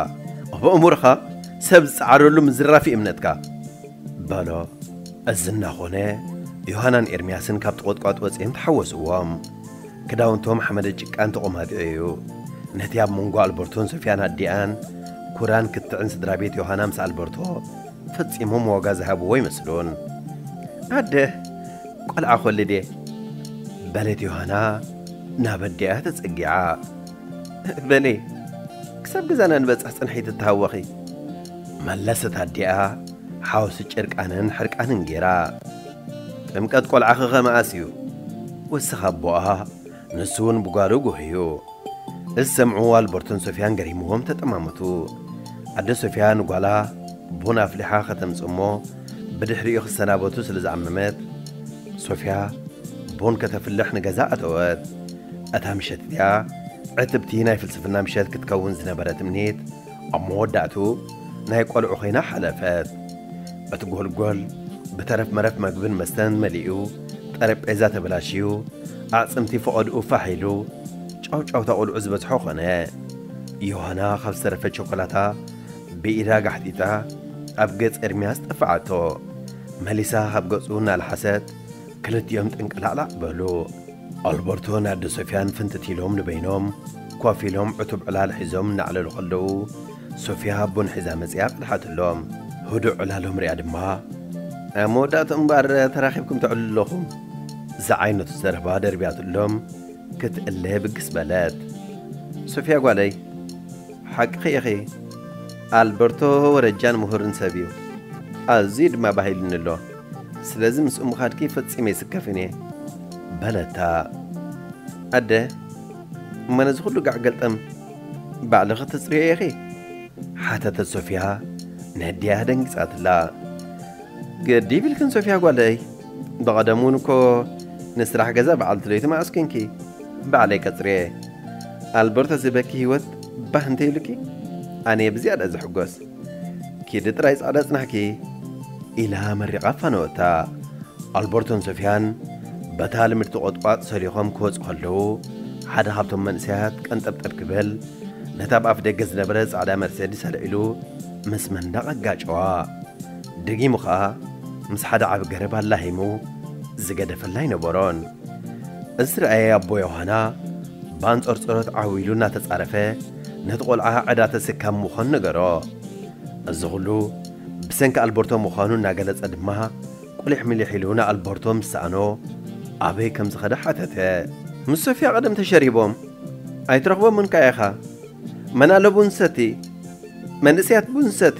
ኣብ ኣእምሮኻ ሰብ ዝጸዓረሉ ምዝራፍ'ዩ እምነትካ። በሎ። እዚ እናኾነ ዮሃናን ኤርምያስን ካብቲ ቖጥቋጥ ወጺኦም ተሓወስዎም። ክዳውንቶም ሓመደ ጭቃን ተቖማጢዑ እዩ። ነቲ ኣብ መንጎ ኣልበርቶን ሶፍያን ኣዲኣን፣ ኩራን ክትዕን ስድራ ቤት ዮሃና ምስ ኣልበርቶ ፈጺሞም ዋጋ ዝሃብዎ ኣይመስሉን። ኣደ፣ ቈልዓ ክወልድ እየ። በለት ዮሃና ናብ ኣዲኣ ተጸጊዓ። በሊ ክሳብ ገዛና ንበጽሕ ጽንሒ ትተሃወኺ። መለሰት ኣዲኣ ሓወሲ ጭርቃንን ሕርቃንን ገይራ። ጥምቀት ቆልዓኽኸ መኣስ እዩ? ወሰኽ ኣቦኣ፣ ንሱውን ብጓሉ ጕህዩ። እዚ ሰምዑ ኣልበርቶን ሶፍያን ገሪምዎም ተጠማመቱ። ኣደ ሶፍያ ንጓላ ቡን ኣፍሊሓ ከተምጽእ እሞ ብድሕሪኡ ክሰናበቱ ስለ ዝዓመመት፣ ሶፍያ ቡን ከተፍልሕ ንገዛ ኣተወት። እታ ምሸት እቲኣ ዕትብቲ ናይ ፍልስፍና ምሸት ክትከውን ዝነበረ ትምኒት፣ ኣብ መወዳእትኡ ናይ ቆልዑ ኮይና ሓለፈት። እቲ ጎልጎል ብተረፍ መረፍ መግብን መስተን መሊኡ፣ ጠረጴዛ ተበላሽዩ፣ ኣዕጽምቲ ፈቐድኡ ፋሕ ኢሉ፣ ጫውጫውታ ቆልዑ ዝበዝሖ ኮነ። ዮሃና ካብ ዝተረፈ ቸኮላታ ብኢዳ ጋሕጢጣ ኣብ ገጽ ኤርምያስ ጠፈዓቶ። መሊሳ ካብ ገጹ እናልሓሰት ክልቲኦም ጥንቅላዕላዕ በሉ። ኣልበርቶን ኣደ ሶፍያን ፍንትት ኢሎም ንበይኖም ኮፍ ኢሎም ዕቱብ ዕላል ሒዞም እናዕለሉ ከለዉ፣ ሶፍያ ቡን ሒዛ መጺኣ ቀድሓትሎም። ህዱእ ዕላሎም ሪኣ ድማ፣ ኣብ መወዳእትኡ እምበኣር ተራኺብኩም ተዕልሉ ኣለኹም ዝዓይነቱ ዘረባ ደርቢያትሎም ክትእለ ብግስ በለት። ሶፍያ ጓለይ፣ ሓቅኺ ኢኺ፣ ኣልበርቶ ወረጃን ምሁርን ሰብ'ዩ። ኣዝዩ ድማ ባህ ኢሉኒ ኣሎ። ስለዚ ምስኡ ምኻድኪ ፈጺመ ኣይስከፍን እየ። በለታ። ኣደ፣ እሞ ነዚ ኹሉ ጋዕ ገልጠም ባዕልኺ ተጽርይዮ ኢኺ? ሓተተት ሶፍያ ንህድያህ ደንጊጻትላ። ግዲ ይብልክን ሶፍያ ጓለይ፣ ብቐደሙ እውን እኮ ንስራሕ ገዛ በዓልቲ ለይቲ መዓስ ኴንኪ ባዕለይ ቀጽርየ። ኣልበርቶ እዚ በኪ ህይወት ባህ እንተይብልኪ ኣነየ ብዝያዳ ዝሕጎስ። ኪዲ ጥራይ ጻዕዳ ጽናሕኪ ኢላ መሪቓ ኣፋነወታ። ኣልበርቶን ሶፍያን በታ ልምድቲ ቆጥቋጥ ሰሊኾም ክወጹ ከለዉ ሓደ ካብቶም መንእሰያት ቀንጠብጠብ ክብል ነታ ብ ኣፍደገ ዝነበረት ጻዕዳ መርሴዲስ ኣልዒሉ ምስ መንደቕ ኣጋጨዋ። ደጊሙ ከኣ ምስ ሓደ ዓቢ ገረብ ኣላሂሙ ዝገደፈላ ኣይነበሮን። እዚ ዝረኣየ ኣቦ ዮሃና ብኣንጸርጸሮት ዓው ኢሉ እናተጻረፈ፣ ነቲ ቆልዓ ዕዳ ተሰካሚ ምዃኑ ነገሮ። እዚ ኹሉ ብሰንኪ ኣልበርቶ ምዃኑ እናገለጸ ድማ ቁሊሕ ሚሊሕ ኢሉ ንኣልበርቶ ምስ ሰኣኖ ኣበይ ከም ዝኸደ ሓተተ። ምስ ሶፍያ ቀደም ተሸሪቦም ኣይትረኽቦምን ከኣ ኢኻ። መን ኣሎ ቡን ዝሰቲ? መንእሰያት ቡን ዝሰቲ?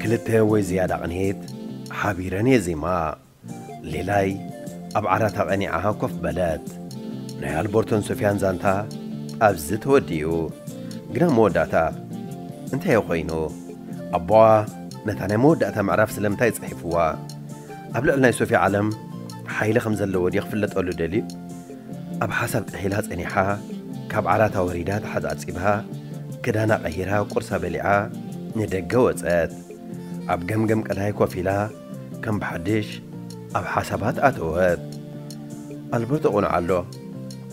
ክልተ ወይ ዝያዳ ቕንየት ሓቢረን የዜማ። ሌላይ ኣብ ዓራታ ቐኒዓ ኮፍ በለት። ናይ ኣልቦርቶን ሶፍያን ዛንታ ኣብዚ ተወዲኡ። ግን ኣብ መወዳእታ እንታይ'ዩ ኾይኑ? ኣቦኣ ነታ ናይ መወዳእታ ምዕራፍ ስለምንታይ ጽሒፍዋ? ኣብ ልዕሊ ናይ ሶፍያ ዓለም ሓይሊ ከም ዘለዎ ድዩ ክፍለጠሉ ደልዩ? ኣብ ሓሳብ ጥሒላ ጸኒሓ ካብ ዓራታ ወሪዳ ተሓጻጺባ ክዳና ቀይራ ቁርሳ በሊዓ ንደገ ወጸት። ኣብ ገምገም ቀላይ ኮፍ ኢላ ከም ብሓድሽ ኣብ ሓሳባት ኣተወት። ኣልቦ ተቑንዖ ኣሎ።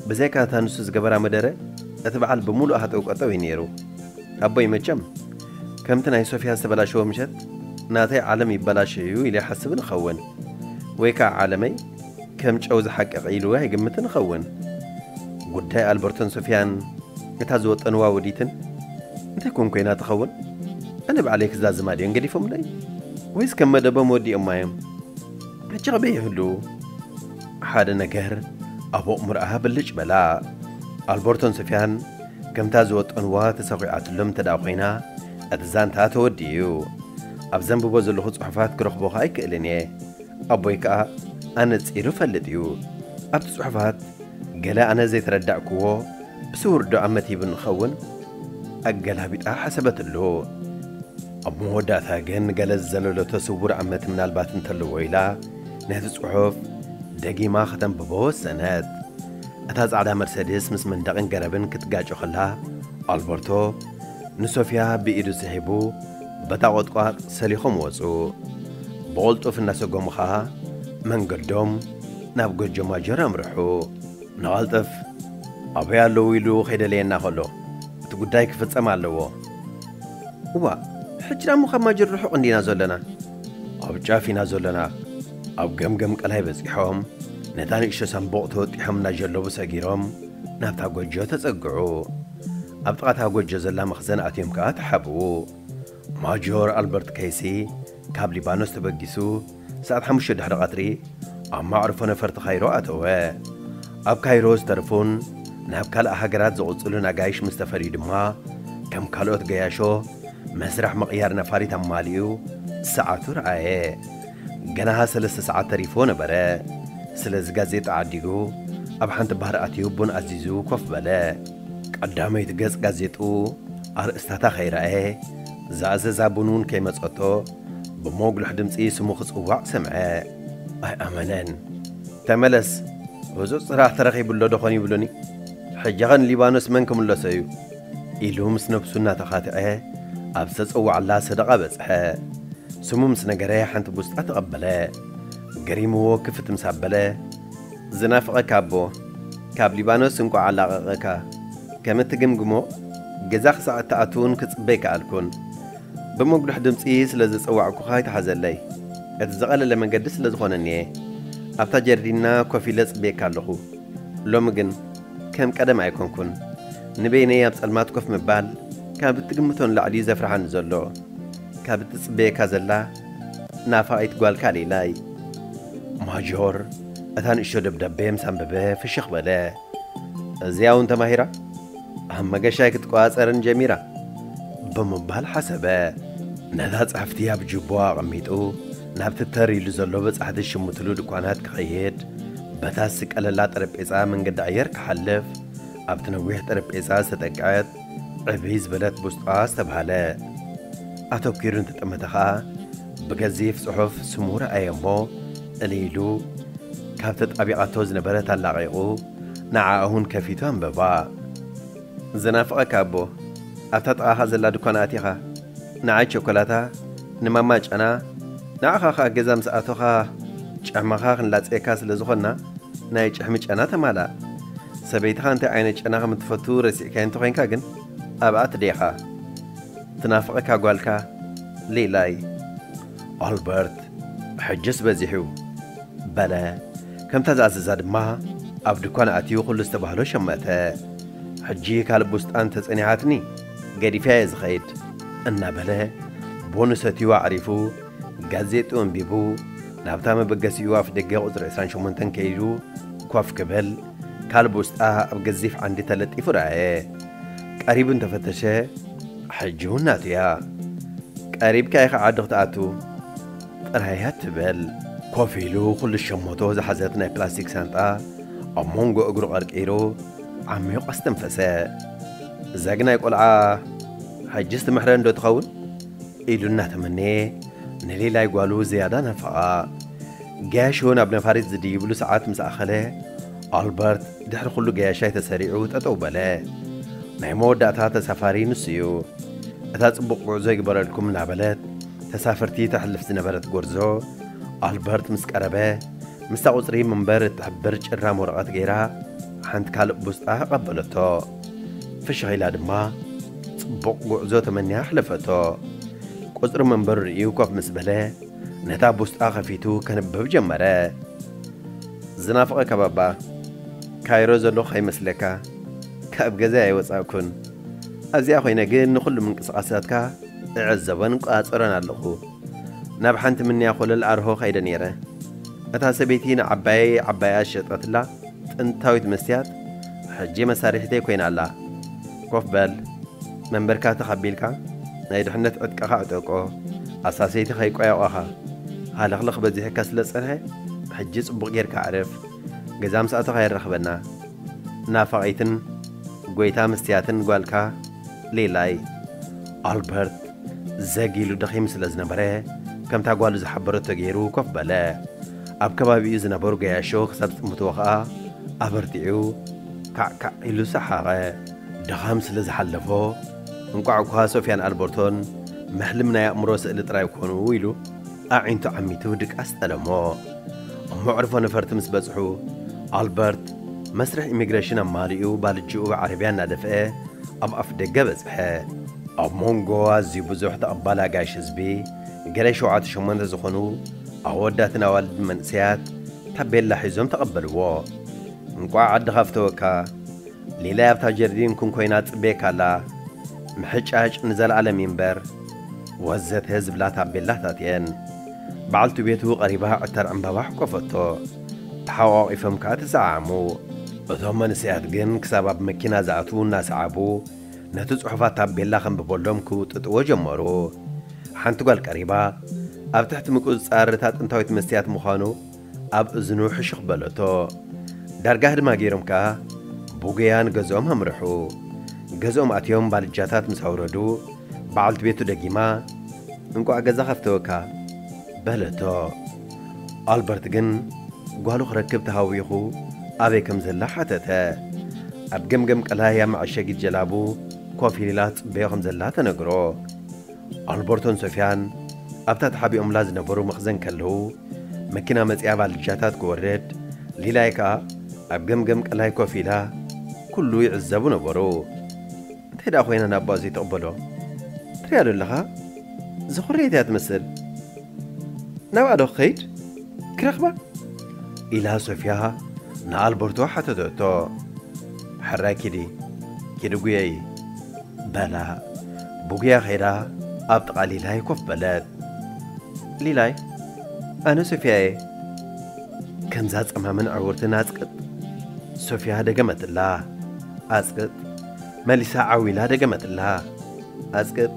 ብዘይካ እታ ንሱ ዝገበራ መደረ እቲ በዓል ብምሉኡ ሃጠው ቀጠው እዩ ነይሩ። ኣቦይ መቸም ከምቲ ናይ ሶፍያ ዝተበላሸወ ምሸት ናተይ ዓለም ይበላሸ እዩ ኢሉ ይሓስብን እኸውን ወይ ከኣ ዓለመይ ከም ጨው ዝሓቀቐ ኢሉ ኣይግምትን እኸውን። ጉዳይ ኣልበርቶን ሶፍያን ነታ ዝወጠንዋ ወዲትን እንታይ ኮን ኮይና ትኸውን? ኣነ ባዕለይ ክዛዝማ ድዮም ገዲፎምለይ? ወይስ ከም መደቦም ወዲኦማ'ዮም? ሕጂ ኣበይ ይህልዉ? ሓደ ነገር ኣብ ኣእምሮኣ ብልጭ በላ። ኣልበርቶን ሶፍያን ከምታ ዝወጠንዋ ተሰዂዓትሎም እንተ ደኣ ኮይና፣ እቲ ዛንታ ተወዲኡ'ዩ። ኣብ ዘንብቦ ዘለኹ ጽሑፋት ክረኽቦ ከኣ ኣይክእልን እየ። ኣቦይ ከኣ ኣነጺሩ ይፈልጥ እዩ። ኣብቲ ጽሑፋት ገለ ኣነ ዘይተረዳእኩዎ ብስውርዶ ኣመቲቡ ንኸውን ኣገላቢጣ ሓሰበትሉ። ኣብ መወዳእታ ግን ገለ ዝዘለሎቶ ስውር ኣመት ምናልባት እንተለዎ ኢላ ነቲ ጽሑፍ ደጊማ ከተንብቦ ወሰነት። እታ ጻዕዳ መርሰድስ ምስ መንደቕን ገረብን ክትጋጮ ከላ ኣልበርቶ ንሶፍያ ብኢዱ ስሒቡ በታ ቖጥቋጥ ሰሊኾም ወጹ። ብቕልጡፍ እናሰጎሙ ኸኣ መንገዶም ናብ ጎጆ ማጀር ኣምርሑ። ንቐልጥፍ ኣበይ ኣለዉ ኢሉ ኼደለየና ኸሎ፣ እቲ ጕዳይ ኪፍጸም ኣለዎ። እዋእ! ሕጂ ደኣ'ሞ ኻብ ማጀር ርሑቕ እንዲና ዘሎና። ኣብ ጫፍ ኢና ዘሎና። ኣብ ገምገም ቀላይ በጺሖም፣ ነታ ንእሽቶ ሳንቡቕ ተወጢሖም እናዠለቡ ሰጊሮም ናብታ ጎጆ ተጸግዑ። ኣብ ጥቓ እታ ጎጆ ዘላ መኽዘን ኣትዮም ከኣ ተሓብኡ። ማጆር ኣልበርት ከይሲ ካብ ሊባኖስ ተበጊሱ ሰዓት ሓሙሽተ ድሕሪ ቐትሪ ኣብ መዕርፎ ነፈርቲ ካይሮ ኣተወ። ኣብ ካይሮ ዝተርፉን ናብ ካልእ ሃገራት ዝቕጽሉን ኣጋይሽ ምስ ተፈልዩ ድማ ከም ካልኦት ገያሾ መስርሕ ምቕያር ነፋሪት ኣማሊኡ ሰዓቱ ረኣየ። ገና ሰለስተ ሰዓት ተሪፍዎ ነበረ። ስለዚ ጋዜጣ ዓዲጉ ኣብ ሓንቲ ባር ኣትዩ ቡን ኣዚዙ ኮፍ በለ። ቀዳመይቲ ገጽ ጋዜጥኡ ኣርእስታታ ከይረኣየ፣ ዝኣዘዛ ቡን እውን ከይመጸቶ ብሞጉሉሕ ድምጺ ስሙ ክጽዋዕ ሰምዐ። ኣይኣመነን። ተመለስ! ህጹጽ ስራሕ ተረኺቡሎዶ ኾን ይብሉኒ። ሕጂኸ ንሊባኖስ መን ክምለሶ እዩ? ኢሉ ምስ ነብሱ እናተኻትዐ ኣብ ዝተጸወዓላ ሰደቓ በጽሐ። ስሙ ምስ ነገረ ሓንቲ ቡስጣ ተቐበለ። ገሪምዎ ክፍት ምስ ኣበለ፣ ዝናፍቐካ ኣቦ ካብ ሊባኖስ እንቋዕ ኣላቐቐካ፣ ከም እትግምግሞ ገዛ ክሳዕ እትኣቱ'ውን ክጽበ ኣይከኣልኩን። ብመጉልሕ ድምጺ ስለ ዝጸዋዕኩኻ ኣይትሓዘለይ፣ እቲ ዝቐለለ መንገዲ ስለ ዝኾነኒ'የ ኣብታ ጀርዲንና ኮፍ ኢለ ጽብየካ ኣለኹ። ሎሚ ግን። ከም ቀደም ኣይኮንኩን። ንበይነይ ኣብ ጸልማት ኮፍ ምባል ካብ እትግምቶ ንላዕሊ እዩ ዘፍርሓኒ ዘሎ። ካብ እትጽበየካ ዘላ ናፋቒት ጓልካ ሌላይ። ማጆር እታ ንእሽቶ ደብዳቤ ምስ ኣንበበ ፍሽኽ በለ። እዚኣ እውን ተማሂራ ኣብ መገሻይ ክትቆጻጸርን ጀሚራ ብምባል ሓሰበ። ነታ ጽሕፍቲ ኣብ ጁባኡ ኣቐሚጡ ናብቲ ተር ኢሉ ዘሎ በጻሕቲ ዝሽምትሉ ድኳናት ክኸይድ፣ በታ ዝስቀለላ ጠረጴጻ መንገዲ ኣየር ክሓልፍ፣ ኣብቲ ነዊሕ ጠረጴጻ ዝተጠቅዐት ዕብይ ዝበለት ቡስጣ ዝተብሃለ ኣተኲሩ እንተጠመተ ኸኣ ብገዚፍ ጽሑፍ ስሙ ረኣየ እሞ እልይ ኢሉ ካብ ተጣቢቓቶ ዝነበረት ኣላቒቑ ንዓኣ'ውን ከፊቱ ኣንበባ። ዝናፍቐካ ኣቦ ኣብታ ጥቓኻ ዘላ ድኳን ኣቲኻ ንዓይ ቸኮላታ ንማማ ጨና ንዓኻ ከኣ ገዛ ምስ ኣቶኻ ጭሕምኻ ክንላጽየካ ስለ ዝኾንና ናይ ጭሕሚ ጨና ተማላእ ሰበይትኻ እንታይ ዓይነት ጨና ከም እትፈቱ ረሲዕካዮ እንተ ኾይንካ ግን ኣብኣ ትዴኻ ትናፍቐካ ጓልካ ሊላይ። ኣልበርት ሕጅስ በዚሑ በለ ከምታ ዝኣዘዛ ድማ ኣብ ድኳን ኣትዩ ኩሉ ዝተባህሎ ሸመተ ሕጂ ካልእ ቡስጣን ተጸኒሓትኒ ገዲፈያ'የ ዝኸይድ እናበለ ቡኑ ሰትዩ ኣዕሪፉ ጋዜጥኡ ኣንቢቡ ናብታ መበገሲኡ ኣፍደገ ቁጽሪ ዕስራን ሸሞንተን ከይዱ ኮፍ ክብል ካልብ ውስጣ ኣብ ገዚፍ ዓንዲ ተለጢፉ ረኣየ። ቀሪቡ እንተ ፈተሸ፣ ሕጂውን ናቱ እያ። ቀሪብካ ኢኻ ዓዲ ክትኣቱ ጥራይ እያ እትበል። ኮፍ ኢሉ ኵሉ ሸሞቶ ዝሓዘት ናይ ፕላስቲክ ሳንጣ ኣብ መንጎ እግሩ ቀርቂሩ ዓሚቝ ኣስተንፈሰ። ዘግናይ ቈልዓ ሕጅስ ትምሕረኒዶ ትኸውን? ኢሉ እናተመነየ ንሌላይ ጓሉ ዝያዳ ናፈቓ። ገያሾ ናብ ነፋሪት ዝድይብሉ ሰዓት ምስ ኣኸለ፣ ኣልበርት ድሕሪ ኹሉ ገያሻይ ተሰሪዑ ጠጠው በለ። ናይ መወዳእታ ተሳፋሪ ንሱ እዩ። እታ ጽቡቕ ጉዕዞ ይግበረልኩም እናበለት ተሳፈርቲ ተሕልፍ ዝነበረት ጎርዞ፣ ኣልበርት ምስ ቀረበ፣ ምስታ ቁጽሪ ምንበር እትሕብር ጭራም ወረቐት ገይራ ሓንቲ ካልእ ቡስጣ ኣቐበለቶ። ፍሽኽ ኢላ ድማ ጽቡቕ ጉዕዞ ተመንያ ኣሕለፈቶ። ቁጽሪ መንበሩ ርእዩ ኮፍ ምስ በለ፣ ነታ ቡስጣ ከፊቱ ከንብብ ጀመረ። ዝናፍቐካባባ ካይሮ ዘለኹ ከይመስለካ ካብ ገዛይ ኣይወጻእኩን። ኣብዚኣ ኮይነ ግን ንኹሉ ምንቅስቓሳትካ እዕዘቦን እቆጻጸሮን ኣለኹ። ናብ ሓንቲ ምንያ ኮለል ኣርሆ ከይደ ነይረ። እታ ሰበይቲ ንዓባየይ ዓባያ ዝሸጠትላ ጥንታዊት መስትያት ሕጂ መሳርሒተይ ኮይና ኣላ። ኮፍ በል፣ መንበርካ ትኽ ኣቢልካ ናይ ድሕነት ዕጥቅኻ ኣዕጠቆ፣ ኣሳሰይቲ ከይቆያቆኻ። ሃለኽለኽ በዚሑካ ስለ ዝጸንሐ ሕጂ ጽቡቕ ጌርካ ኣዕርፍ፣ ገዛ ምስ ኣቶኻ የራኽበና። ናፋቒትን ጎይታ መስትያትን ጓልካ ሊላይ። ኣልበርት ዘግ ኢሉ ደኺሙ ስለ ዝነበረ ከምታ ጓሉ ዝሓበረቶ ጌሩ ኮፍ በለ። ኣብ ከባቢኡ ዝነበሩ ገያሾ ክሳብ ዝጥምትዎ ከኣ ኣበርቲዑ ካዕ ካዕ ኢሉ ሰሓቐ። ድኻም ስለ ዝሓለፎ እንቋዕ'ኳ ሶፍያን ኣልበርቶን መሕልም ናይ ኣእምሮ ስእሊ ጥራይ ኰኑ ኢሉ ኣዒንቱ ዓሚቱ ድቃስ ጠለሞ። ኣብ መዕርፎ ነፈርቲ ምስ በጽሑ ኣልበርት መስርሕ ኢሚግረሽን ኣማሊኡ ባልጅኡ ብዓረብያ እናደፍኤ ኣብ ኣፍደገ በጽሐ። ኣብ ሞንጎ ኣዝዩ ብዙሕ ተቐባሊ ኣጋይሽ ህዝቢ ገለ ሸውዓተ ሸሞንተ ዝኾኑ ኣወዳትን ኣዋልድን መንእሰያት ታቤላ ሒዞም ተቐበልዎ። እንቋዕ ዓድኻ ፍተወካ፣ ሊላይ ኣብታ ጀርዲን ኩን ኮይና ትጽበየካ ኣላ፣ ምሕጫጭ ንዘለኣለም ይንበር፣ ወዘተ ዝብላ ታቤላታት እየን። በዓልቲ ቤቱ ቀሪባ ዕተር ዕምባባ ኣሕቈፈቶ። ተሓቛቒፎም ከኣ ተሰዓዓሙ። እቶም መንእሰያት ግን ክሳብ ኣብ መኪና ዝኣትዉ እናሰዓቡ፣ ነቲ ጽሑፋት ታቤላ ከንብበሎም ክውጥጥዎ ጀመሩ። ሓንቲ ጓል ቀሪባ፣ ኣብ ትሕቲ ምቁጽጻር እታ ጥንታዊት መስትያት ምዃኑ ኣብ እዝኑ ሕሹኽ በለቶ። ዳርጋ ህድማ ገይሮም ከኣ ብጉያ ንገዝኦም ኣምርሑ። ገዝኦም ኣትዮም ባልጃታት ምስ ኣውረዱ፣ በዓልቲ ቤቱ ደጊማ፣ እንቋዕ ገዛ ከፍተወካ! በለቶ። ኣልበርት ግን ጓሉ ክረክብ ተሃዊኹ ኣበይ ከም ዘላ ሓተተ። ኣብ ገምገም ቀላያ መዐሸጊት ጀላቡ ኮፍ ኢላ ትጽበዮ ከም ዘላ ተነግሮ። ኣልበርቶን ሶፍያን ኣብታ ተሓቢኦምላ ዝነበሩ መኽዘን ከለዉ መኪና መጺኣ ባልጃታት ክወርድ ሊላይ ከኣ ኣብ ገምገም ቀላይ ኮፍ ኢላ ኩሉ ይዕዘቡ ነበሩ። እንታይ ደኣ ኮይና ንኣቦኣ ዘይትቕበሎ ትሪኣዶ ኣለኻ? ዘኹረየት እያ ትመስል። ናብኣ ዶ ክኸይድ ክረኽባ? ኢላ ሶፍያ ንኣልበርቶ ሓተተቶ። ሕራይ ኪዲ ኪዲ ጉየዪ። በላ ብጉያ ከይዳ ኣብ ጥቓ ሊላይ ኮፍ በለት። ሊላይ ኣነ ሶፍያ'የ። ከምዛ ጸማምን ዕውርትን ኣጽቅጥ። ሶፍያ ደገመትላ። ኣጽቅጥ። መሊሳ ዓው ኢላ ደገመትላ። ኣጽቅጥ!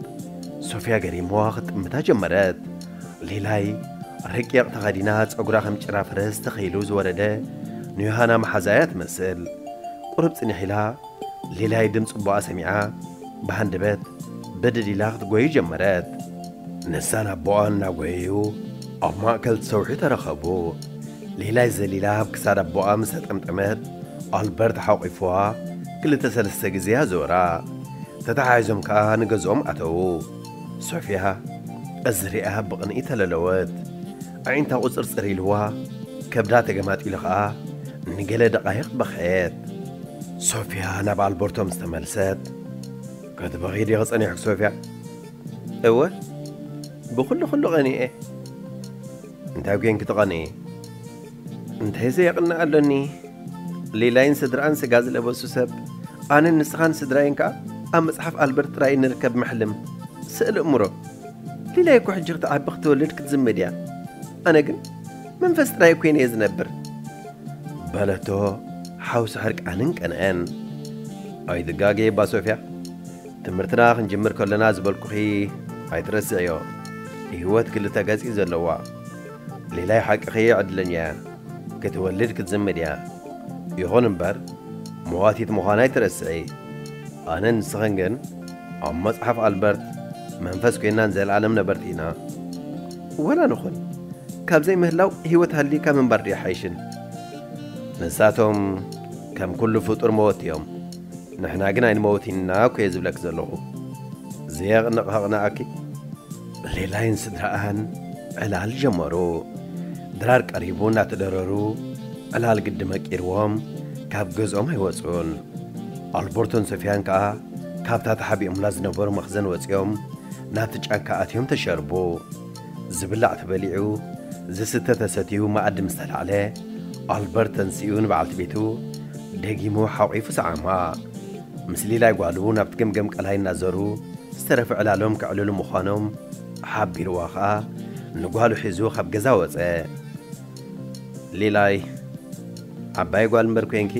ሶፍያ ገሪምዋ ክትጥምታ ጀመረት። ሊላይ ረቂቕ ተኸዲና ጸጉራ ከም ጭራ ፈረስ ተኸይሉ ዝወረደ ንዮሃና መሓዝኣ እያ ትመስል። ቁሩብ ጽኒሕ ኢላ ሊላይ ድምጺ ኣቦኣ ሰሚዓ ብሃንደበት ብድድ ኢላ ክትጎዩ ጀመረት። ንሳን ኣቦኣን እናጎየዩ ኣብ ማእከል እቲ ሰውሒ ተራኸቡ። ሌላይ ዘሊላ ኣብ ክሳድ ኣቦኣ ምስ ኣጠምጠመት፣ ኣልበርት ሓቝፍዋ ክልተ ሰለስተ ግዜ ኣዞራ። ተተሓሒዞም ከኣ ንገዝኦም ኣተዉ። ሶፍያ እዚ ርእያ ብቕንኢ ተለለወት። ኣዒንታ ቍጽርጽር ኢልዋ፣ ከብዳ ተገማጢሉ ከኣ ንገለ ደቓይቕ በኸየት። ሶፍያ ናብ ኣልበርቶ ምስ ተመልሰት፣ ክትበኺ ዲኺ ጸኒሕኪ ሶፍያ? እወ፣ ብዅሉ ዅሉ ቐኒኤ። እንታይ ኮይንኪ ትቐንኢ? እንታይ ዘየቕንእ ኣሎኒ? ሊላይን ስድርኣን ስጋ ዝለበሱ ሰብ፣ ኣነን ንስኻን ስድራይን ከኣ ኣብ መጽሓፍ ኣልበርት ጥራይ እንርከብ መሕልም፣ ስእሊ እምሮ። ሊላይ እኮ ሕጂ ክትዓቢ ክትወልድ ክትዝምድ እያ። ኣነ ግን መንፈስ ጥራይ ኮይነ እየ ዝነብር። በለቶ ሓውሲ ሕርቃንን ቀንዐን። ኣይትጋገይባ ሶፍያ። ትምህርትና ክንጅምር ከሎና ዝበልኩኺ ኣይትረስዕዮ ሂወት ክልተ ገጽ እዩ ዘለዋ ሊላይ ሓቅኺ እየ ዕድለኛ እያ ክትወልድ ክትዝምድ እያ ይኹን እምበር መዋቲት ምዃና ኣይትረስዒ ኣነን ንስኽን ግን ኣብ መጽሓፍ ኣልበርት መንፈስ ኮይና ንዘለኣለም ነበርቲ ኢና ወላ ንኹን ካብ ዘይምህላው ሂወት ሃልይካ ምንባር ድዩ ኣይሓይሽን ንሳቶም ከም ኩሉ ፍጡር መወቲ እዮም ንሕና ግን ኣይንመውትን ኢና እኮየ ዝብለኪ ዘለኹ ዘየቕንቕ ሃቕናኣኪ። ሌላይን ስድራኣን ዕላል ጀመሩ። ድራር ቀሪቡ እናተደረሩ ዕላል ግዲ መቂርዎም ካብ ገዝኦም ኣይወጹን። ኣልቦርቶን ሶፍያን ከኣ ካብታ ተሓቢኦምላ ዝነበሩ መኽዘን ወጺኦም ናብቲ ጫካ ኣትዮም ተሸርቡ። ዝብላዕ ተበሊዑ፣ ዝስተ ተሰትዩ መኣዲ ምስ ተላዕለ፣ ኣልበርት ተንሲኡ ንበዓልቲ ቤቱ ደጊሙ ሓቝፉ ሰዓማ። ምስ ሊላይ ጓሉ ናብቲ ገምገም ቀላይ እናዘሩ ዝተረፈ ዕላሎም ከዕልሉ ምዃኖም ሓቢሩዋ ኸኣ ንጓሉ ሒዙ ካብ ገዛ ወጸ። ሊላይ ዓባይ ጓል እምበር ኰይንኪ፣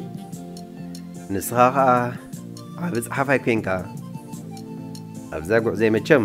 ንስኻ ኸኣ ዓቢ ጸሓፋይ ኰይንካ ኣብዛ ጕዕዞይ መቸም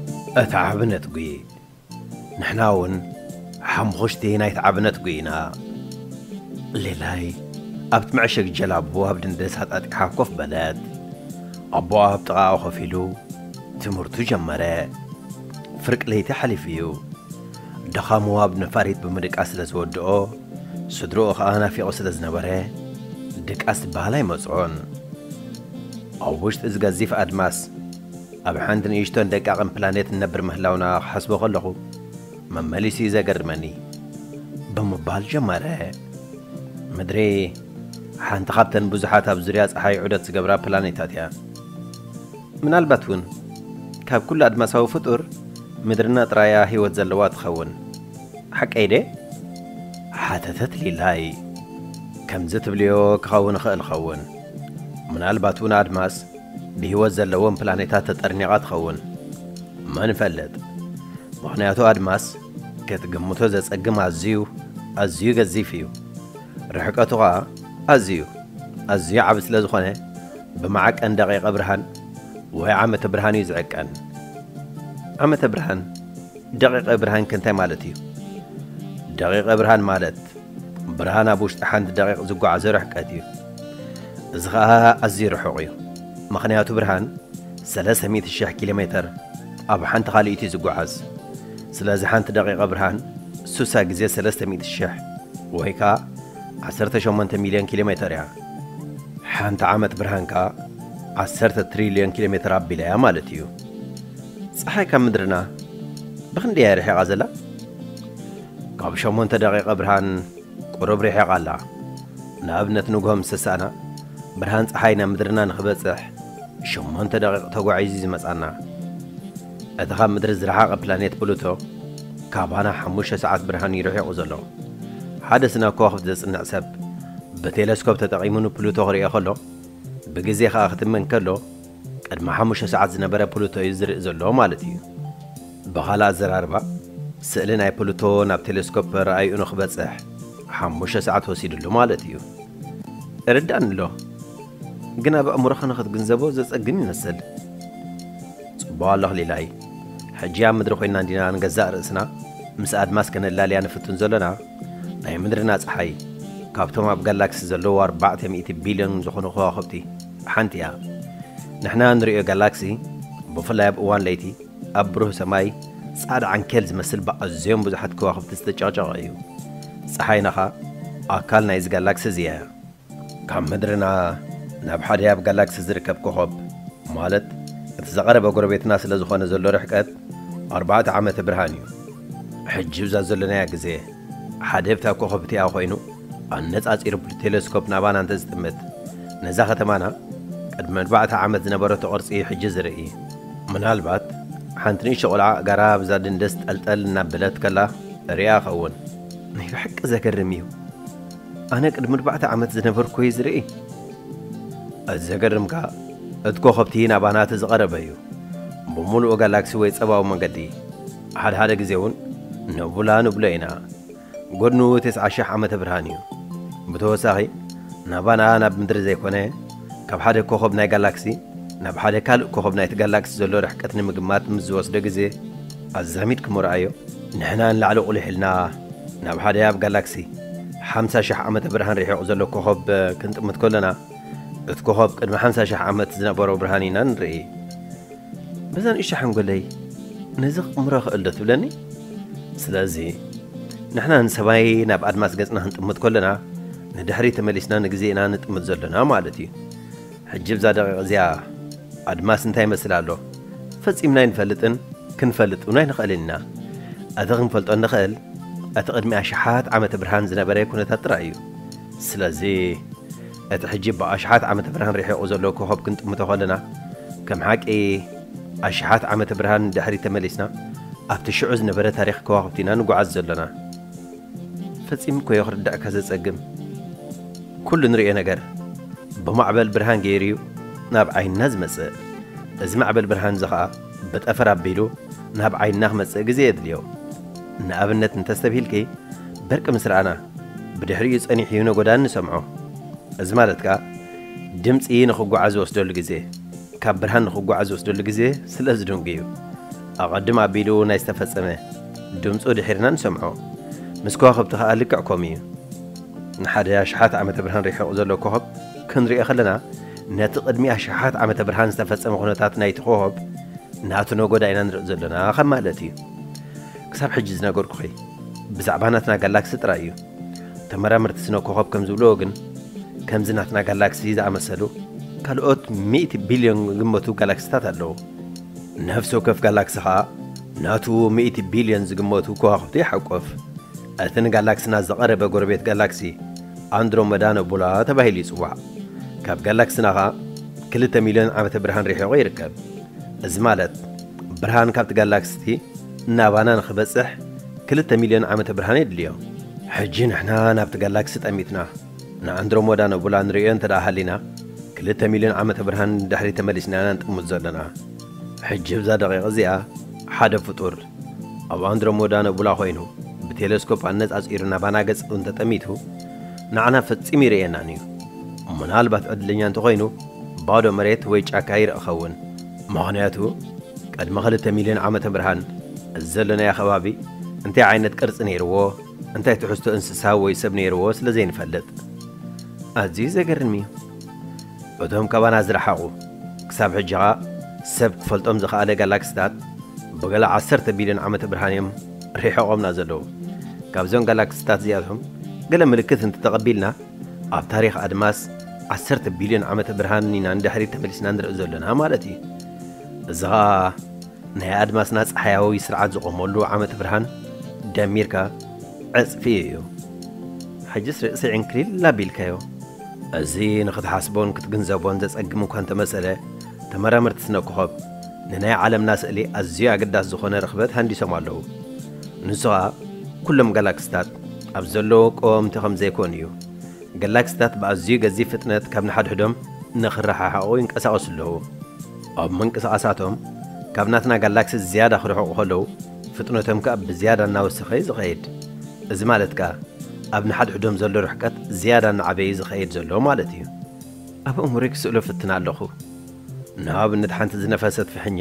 እት ዓቢ ነጥቢ ንሕና ውን ሓምኹሽቲ ናይት ዓቢ ነጥቢ ኢና። ሌላይ ኣብት መዕሸግ ጀላቡ ኣብ ድንደስ ኣጣጢሓ ኮፍ በለት። ኣቦኣ ኣብ ጥቓኣ ኮፍ ኢሉ ትምህርቱ ጀመረ። ፍርቂ ለይቲ ሓሊፉ እዩ። ድኻሙ ኣብ ነፋሪት ብምድቃስ ስለ ዝወድኦ ስድርኡ ከኣ ናፊቑ ስለ ዝነበረ ድቃስ ዝበሃል ኣይመጽኦን። ኣብ ውሽጢ እዚ ገዚፍ ኣድማስ ኣብ ሓንቲ ንእሽቶን ደቃቕን ፕላኔት ንነብር ምህላውና ክሓስቦ ከለኹ መመሊሱ'ዩ ዘገርመኒ። ብምባል ጀመረ። ምድሪ ሓንቲ ካብተን ብዙሓት ኣብ ዙርያ ጸሓይ ዑደት ዝገብራ ፕላኔታት እያ። ምናልባት እውን ካብ ኩሉ ኣድማሳዊ ፍጡር ምድርና ጥራይ'ያ ህይወት ዘለዋ ትኸውን። ሓቀይ ድየ? ሓተተት ሊላይ። ከምዚ ትብልዮ ክኸውን ይኽእል ይኸውን። ምናልባት እውን ኣድማስ፣ ብህይወት ዘለዎም ፕላኔታት ተጠርኒቓ ትኸውን? መን ይፈልጥ? ምኽንያቱ ኣድማስ ክትግምቶ ዘጸግም ኣዝዩ ኣዝዩ ገዚፍ እዩ። ርሕቀቱ ኸኣ ኣዝዩ ኣዝዩ ዓቢ ስለ ዝኾነ ብመዓቀን ደቒቐ ብርሃን ወይ ዓመተ ብርሃን እዩ ዝዕቀን። ዓመተ ብርሃን፣ ደቒቐ ብርሃን ከ እንታይ ማለት እዩ? ደቒቐ ብርሃን ማለት ብርሃን ኣብ ውሽጢ ሓንቲ ደቒቕ ዝጓዓዞ ርሕቀት እዩ። እዚ ኸኣ ኣዝዩ ርሑቕ እዩ፣ ምኽንያቱ ብርሃን ሰለስተ ሚእቲ ሽሕ ኪሎ ሜተር ኣብ ሓንቲ ካልኢት እዩ ዝጓዓዝ። ስለዚ ሓንቲ ደቒቐ ብርሃን ሱሳ ግዜ ሰለስተ ሚእቲ ሽሕ ወይ ከኣ ዓሰርተ ሸሞንተ ሚልዮን ኪሎ ሜተር እያ። ሓንቲ ዓመት ብርሃን ከኣ ዓሰርተ ትሪልዮን ኪሎ ሜተር ኣቢላ እያ ማለት እዩ። ጸሓይ ካብ ምድርና ብኽንደይ እያ ርሒቓ ዘላ? ካብ ሸሞንተ ደቒቐ ብርሃን ቁሩብ ሪሒቓ ኣላ። ንኣብነት ንግሆ ምስ ተሳእና ብርሃን ጸሓይ ናብ ምድርና ንኽበጽሕ ሸሞንተ ደቒቕ ተጓዒዙ'ዩ ዝመጽኣና። እቲ ካብ ምድሪ ዝረሓቐ ፕላኔት ፕሉቶ ካባና ሓሙሽተ ሰዓት ብርሃን'ዩ ርሒቑ ዘሎ። ሓደ ስነ ከዋኽብቲ ዘጽንዕ ሰብ ብቴለስኮፕ ተጠቒሙ ንፕሉቶ ክርእዮ ከሎ ብግዜ ከኣ ክትመን ከሎ፣ ቅድሚ ሓሙሽተ ሰዓት ዝነበረ ፕሉቶ እዩ ዝርእ ዘሎ ማለት እዩ። ብኻልእ ኣዘራርባ፣ ስእሊ ናይ ፕሉቶ ናብ ቴለስኮፕ ረኣይኡ ንክበጽሕ ሓሙሽተ ሰዓት ወሲድሉ ማለት እዩ። እርዳኣኒ'ሎ፣ ግን ኣብ ኣእምሮኻ ንክትግንዘቦ ዘጸግም ይመስል። ጽቡቕ ኣለኽ ሊላይ። ሕጂ ኣብ ምድሪ ኮይንና እንዲና ንገዛእ ርእስና ምስ ኣድማስ ከነላልያ ንፍትን ዘሎና። ናይ ምድርና ጸሓይ፣ ካብቶም ኣብ ጋላክሲ ዘለዉ ኣርባዕተ ሚእቲ ቢልዮን ዝኾኑ ከዋኽብቲ፣ ሓንቲ እያ። ንሕና እንርእዮ ጋላክሲ፣ ብፍላይ ኣብ እዋን ለይቲ፣ ኣብ ብሩህ ሰማይ ጻዕዳ ዓንኬል ዝመስል ብኣዝዮም ብዙሓት ከዋኽብቲ ዝተጨቕጨቐ እዩ። ጸሓይና ከኣ ኣካል ናይዚ ጋላክሲ እዚ እያ። ካብ ምድርና ናብ ሓደ ኣብ ጋላክሲ ዝርከብ ኮኾብ፣ ማለት እቲ ዝቐረበ ጎረቤትና ስለ ዝኾነ ዘሎ ርሕቀት፣ ኣርባዕተ ዓመተ ብርሃን እዩ። ሕጂ እብዛ ዘሎናያ ግዜ፣ ሓደ ብታ ኮኾብ እቲኣ ኮይኑ ኣነጻጺሩ ብቴለስኮፕ ናባና እንተ ዝጥምት ነዛ ከተማና ቅድሚ ኣርባዕተ ዓመት ዝነበረቶ ቅርጺ እዩ ሕጂ ዝርኢ። ምናልባት ሓንቲ ንእሽቶ ቆልዓ ኣእጋራ ኣብዛ ድንደስ ጠልጠል እናበለት ከላ ርእያ እኸውን። ናይ ብሓቂ ዘገርም እዩ። ኣነ ቅድሚ ኣርባዕተ ዓመት ዝነበርኩ እየ ዝርኢ። እቲ ዘገርም ከኣ እቲ ኮኾብቲ ናባና እቲ ዝቐረበ እዩ። ብምሉኡ ጋላክሲ ወይ ጸባዊ መንገዲ። ሓደ ሓደ ግዜ እውን ንቡላ ንብሎ ኢና። ጎድኑ ትስዓ ሽሕ ዓመተ ብርሃን እዩ። ብተወሳኺ ናባና ናብ ምድሪ ዘይኮነ ካብ ሓደ ኮኾብ ናይ ጋላክሲ ናብ ሓደ ካልእ ኮኾብ ናይቲ ጋላክሲ ዘሎ ርሕቀት ንምግማት ምስ ዝወስዶ ግዜ ኣዛሚድክሞ ርኣዮ። ንሕና ንላዕሊ ቁሊሕ ኢልና ናብ ሓደ ኣብ ጋላክሲ ሓምሳ ሽሕ ዓመተ ብርሃን ርሒቑ ዘሎ ኮኾብ ክንጥምት ከሎና እቲ ኮኾብ ቅድሚ ሓምሳ ሽሕ ዓመት ዝነበሮ ብርሃን ኢና ንርኢ። በዛ ንእሽቶ ሓንጎለይ ነዚ ክቕምሮ እኽእል ዶ ትብለኒ? ስለዚ ንሕና ንሰማይ ናብ ኣድማስ ገጽና ክንጥምት ከሎና ንድሕሪት ተመሊስና ንግዜ ኢና ንጥምት ዘሎና ማለት እዩ። ሕጂ ብዛ ደቒቕ እዚኣ ኣድማስ እንታይ ይመስል ኣሎ ፈጺምና ኣይንፈልጥን ክንፈልጥ እውን ኣይንኽእልን ኢና። እቲ ክንፈልጦ እንኽእል እቲ ቅድሚ ኣሽሓት ዓመተ ብርሃን ዝነበረ ኩነታት ጥራይ እዩ። ስለዚ። ነቲ ሕጂ ብኣሽሓት ዓመተ ብርሃን ርሒቑ ዘሎ ኮኾብ ክንጥምቶ ከለና፣ ከም ሓቂ ኣሽሓት ዓመተ ብርሃን ንድሕሪት ተመሊስና ኣብቲ ሽዑ ዝነበረ ታሪኽ ከዋኽብቲ ኢና ንጉዓዝ ዘሎና። ፈጺሙ እኮዮ ክርደኣካ ዘጸግም። ኩሉ ንርእዮ ነገር ብማዕበል ብርሃን ገይሩዩ ናብ ዓይንና ዝመጽእ። እዚ ማዕበል ብርሃንዚ ከኣ። ብጠፈር ኣቢሉ ናብ ዓይንና ክመጽእ ግዜ የድልዮ። ንኣብነት እንተስተብሂልኪ፣ በርቂ ምስ ረኣና፣ ብድሕሪኡ ጸኒሑ ይነጎዳ እንሰምዖ። እዚ ማለት ከኣ፣ ድምጺ ንኽጓዓዝ ዝወስደሉ ግዜ፣ ካብ ብርሃን ንኽጓዓዝ ዝወስደሉ ግዜ ስለ ዝድንጉ'ዩ። ኣቐድም ኣቢሉ ናይ ዝተፈጸመ፣ ድምጹ ድሒርና ንሰምዖ። ምስ ከዋኽብቲ ከኣ ልክዕ ከምኡ'ዩ። ንሓደ ኣሽሓት ዓመተ ብርሃን ርሒቑ ዘሎ ኮኾብ ክንርእዮ ከለና፣ ነቲ ቅድሚ ኣሽሓት ዓመተ ብርሃን ዝተፈጸመ ኩነታት ናይቲ ኮኾብ ናቱ ነጎዳ ኢና ንርኢ ዘሎና ከም ማለት እዩ። ክሳብ ሕጂ ዝነገርኩኺ ብዛዕባ ናትና ጋላክሲ ጥራይ እዩ። ተመራመርቲ ስነ ኮኾብ ከም ዝብልዎ ግን ከምዚ ናትና ጋላክሲ ዝኣመሰሉ ካልኦት ሚእቲ ቢልዮን ዝግመቱ ጋላክሲታት ኣለዉ። ነፍሲ ወከፍ ጋላክሲ ከኣ ናቱ ሚእቲ ቢልዮን ዝግመቱ ኮዋኽብቲ ይሓቁፍ። እቲ ንጋላክስና ዝቐረበ ጎረቤት ጋላክሲ ኣንድሮመዳ ነቡላ ተባሂሉ ይጽዋዕ። ካብ ጋላክስና ከኣ ክልተ ሚልዮን ዓመተ ብርሃን ርሒቑ ይርከብ። እዚ ማለት ብርሃን ካብቲ ጋላክስቲ ናባና ንኽበጽሕ ክልተ ሚልዮን ዓመተ ብርሃን የድልዮ። ሕጂ ንሕና ናብቲ ጋላክሲ ጠሚትና ንኣንድሮሞዳ ነቡላ ንርእዮ እንተደኣ ሃሊና ክልተ ሚልዮን ዓመተ ብርሃን ንድሕሪት ተመሊስና ኢና ንጥምት ዘሎና። ሕጂ እብዛ ደቒቕ እዚኣ ሓደ ፍጡር ኣብ ኣንድሮሞዳ ነቡላ ኮይኑ ብቴለስኮፕ ኣነጻጺሩ ናባና ገጹ እንተ ጠሚቱ ንዓና ፈጺሙ ይርእየናን እዩ። ምናልባት ዕድለኛ እንተ ኮይኑ ባዶ መሬት ወይ ጫካ ይርኢ ክኸውን። ምኽንያቱ ቅድሚ ክልተ ሚልዮን ዓመተ ብርሃን እዚ ዘሎናዮ ከባቢ እንታይ ዓይነት ቅርጺ ነይርዎ እንታይ ትሕዝቶ እንስሳ ወይ ሰብ ነይርዎ ስለ ዘይንፈልጥ። ኣዝዩ ዘገርም እዩ። እቶም ካባና ዝረሓቑ፣ ክሳብ ሕጂ ከኣ ሰብ ክፈልጦም ዝኸኣለ ጋላክሲታት ብገለ ዓሰርተ ቢልዮን ዓመተ ብርሃን እዮም ሪሒቖምና ዘለዉ። ካብዘን ጋላክሲታት እዚኣቶም ገለ ምልክት እንተተቐቢልና፣ ኣብ ታሪኽ ኣድማስ ዓሰርተ ቢልዮን ዓመተ ብርሃን ኢና ንድሕሪት ተመሊስና ንርኢ ዘሎና ማለት እዩ። እዚ ከኣ ናይ ኣድማስና ጸሓያዊ ስርዓት ዝቖመሉ ዓመተ ብርሃን ደሚርካ ዕጽፊ እዩ። ሕጅስ ርእሲ ዕንክሊል ኣቢልካዮ። እዚ ንኽትሓስቦን ክትግንዘቦን ዘጸግም እኳ እንተመሰለ፣ ተመራመርቲ ስነ-ኮኾብ ንናይ ዓለምና ስእሊ ኣዝዩ ኣገዳሲ ዝኾነ ርኽበት ሃንዲሶም ኣለዉ። ንሱ ኸኣ ኩሎም ጋላክሲታት ኣብ ዘለዉ ቀወምቲ ከም ዘይኮኑ እዩ። ጋላክሲታት ብኣዝዩ ገዚፍ ፍጥነት ካብ ንሓድሕዶም ንኽረሓሓቑ ይንቀሳቐሱ ኣለዉ። ኣብ ምንቅስቓሳቶም ካብ ናትና ጋላክሲ ዝያዳ ክርሕቑ ከለዉ፣ ፍጥነቶም ከኣ ብዝያዳ እናወሰኸ እዩ ዝኸይድ። እዚ ማለት ከኣ ኣብ ንሓድሕዶም ዘሎ ርሕቀት ዝያዳ እናዓበየ እዩ ዝኸይድ ዘሎ ማለት እዩ። ኣብ ኣእምሮይ ክስእሎ እፍትን ኣለኹ። ንኣብነት ሓንቲ ዝነፈሰት ፍሕኛ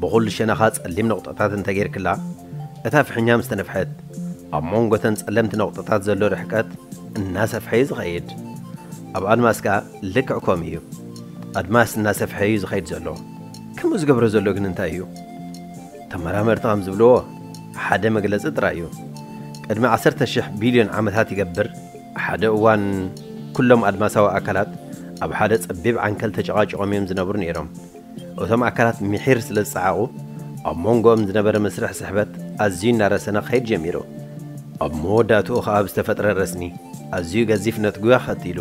ብኹሉ ሸነኻ ጸሊም ነቑጣታት እንተ ጌርክላ፣ እታ ፍሕኛ ምስ ተነፍሐት ኣብ መንጎ እተን ጸለምቲ ነቑጣታት ዘሎ ርሕቀት እናሰፍሐ እዩ ዝኸይድ። ኣብ ኣድማስ ከኣ ልክዕ ከምኡ እዩ። ኣድማስ እናሰፍሐ እዩ ዝኸይድ ዘሎ። ከምኡ ዝገብሮ ዘሎ ግን እንታይ እዩ? ተመራመርቲ ከም ዝብልዎ ሓደ መግለጺ ጥራይ እዩ። ቅድሚ ዓሰርተ ሽሕ ቢልዮን ዓመታት ይገብር ሓደ እዋን ኩሎም ኣድማሳዊ ኣካላት ኣብ ሓደ ጸቢብ ዓንከል ተጨቓጪቖም እዮም ዝነብሩ ነይሮም። እቶም ኣካላት ምሒር ስለ ዝጸዓቑ ኣብ ሞንጎኦም ዝነበረ መስርሕ ስሕበት ኣዝዩ እናረሰነ ክኸይድ ጀሚሩ። ኣብ መወዳእትኡ ከኣ ብዝተፈጥረ ረስኒ ኣዝዩ ገዚፍ ነትጒ ኣኸቲሉ።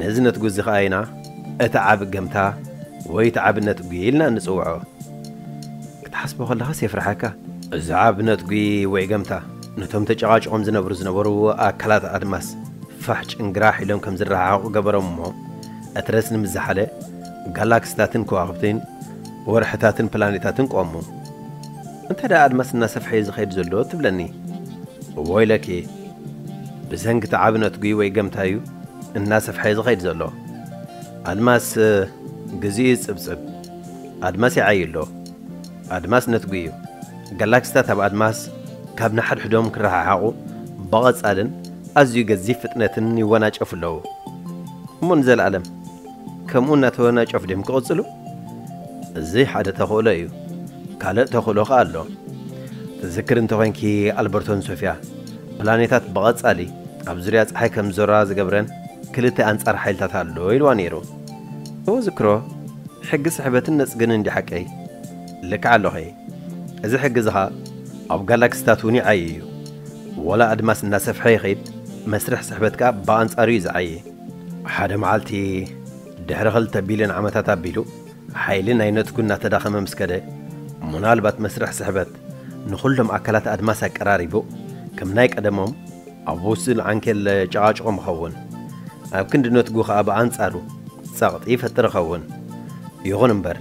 ነዚ ነትጒ እዚ ከኣ ኢና እቲ ዓቢ ገምታ ወይ እቲ ዓቢ ነትጒ ኢልና እንጽውዖ። ክትሓስቦ ከለኻስ የፍርሓካ። ብዛዕብ ነትጒ ወይ ገምታ፣ ነቶም ተጨቓጭቖም ዝነብሩ ዝነበሩ ኣካላት ኣድማስ ፋሕ ጭንግራሕ ኢሎም ከም ዝረሓሓቑ ገበሮም እሞ፣ እቲ ረስኒ ምስ ዝሓለ፣ ጋላክሲታትን ከዋኽብቲን፣ ወርሕታትን ፕላኔታትን ቆሙ። እንታይ ደኣ ኣድማስ እናሰፍሐ'ዩ ዝኸይድ ዘሎ ትብለኒ? ወይለኪ! ብሰንኪ እቲ ዓቢ ነትጒ ወይ ገምታ'ዩ እናሰፍሐ ዝኸይድ ዘሎ። ኣድማስ ግዜኡ ይጽብጽብ። ኣድማስ ይዓዪ ኣሎ፣ ኣድማስ ነትጒ እዩ፣ ጋላክሲታት ኣብ ኣድማስ ካብ ንሓድሕዶም ክረሓሓቑ ብቐጻልን ኣዝዩ ገዚፍ ፍጥነትን ይወናጨፉ ኣለዉ። እሞ ንዘለኣለም ከምኡ እናተወናጨፉ ድዮም ክቕጽሉ? እዚ ሓደ ተኽእሎ እዩ። ካልእ ተኽእሎ ኸኣ ኣሎ። ትዝክሪ እንተ ዄንኪ ኣልበርቶን ሶፍያ ፕላኔታት ብቐጻሊ ኣብ ዙርያ ጸሓይ ከም ዝዞራ ዝገብረን ክልተ ኣንጻር ሓይልታት ኣሎ ኢልዋ ነይሩ። እውዝክሮ ሕጊ ስሕበትን ነጽግንን ድዩ ሓቀይ? ልክዕ ኣሎኺ እዚ ሕጊ እዚ ከኣ ኣብ ጋላክሲታት እውን ይዓዪ እዩ። ወላ ኣድማስ እናሰፍሐ ይኺድ መስርሕ ስሕበት ከኣ ብኣንጻሩ እዩ ዝዓዪ። ሓደ መዓልቲ ድሕሪ ክልተ ቢልዮን ዓመታት ኣቢሉ ሓይሊ ናይ ነጽጉ እናተዳኸመ ምስ ከደ ምናልባት መስርሕ ስሕበት ንኹሎም ኣካላት ኣድማስ ኣቀራሪቡ ከም ናይ ቀደሞም ኣብ ውሱን ዓንኬል ጨቓጭቖም ይኸውን። ኣብ ክንዲ ነትጉ ከኣ ብኣንጻሩ ጸቕጢ ይፈጥር ይኸውን። ይኹን እምበር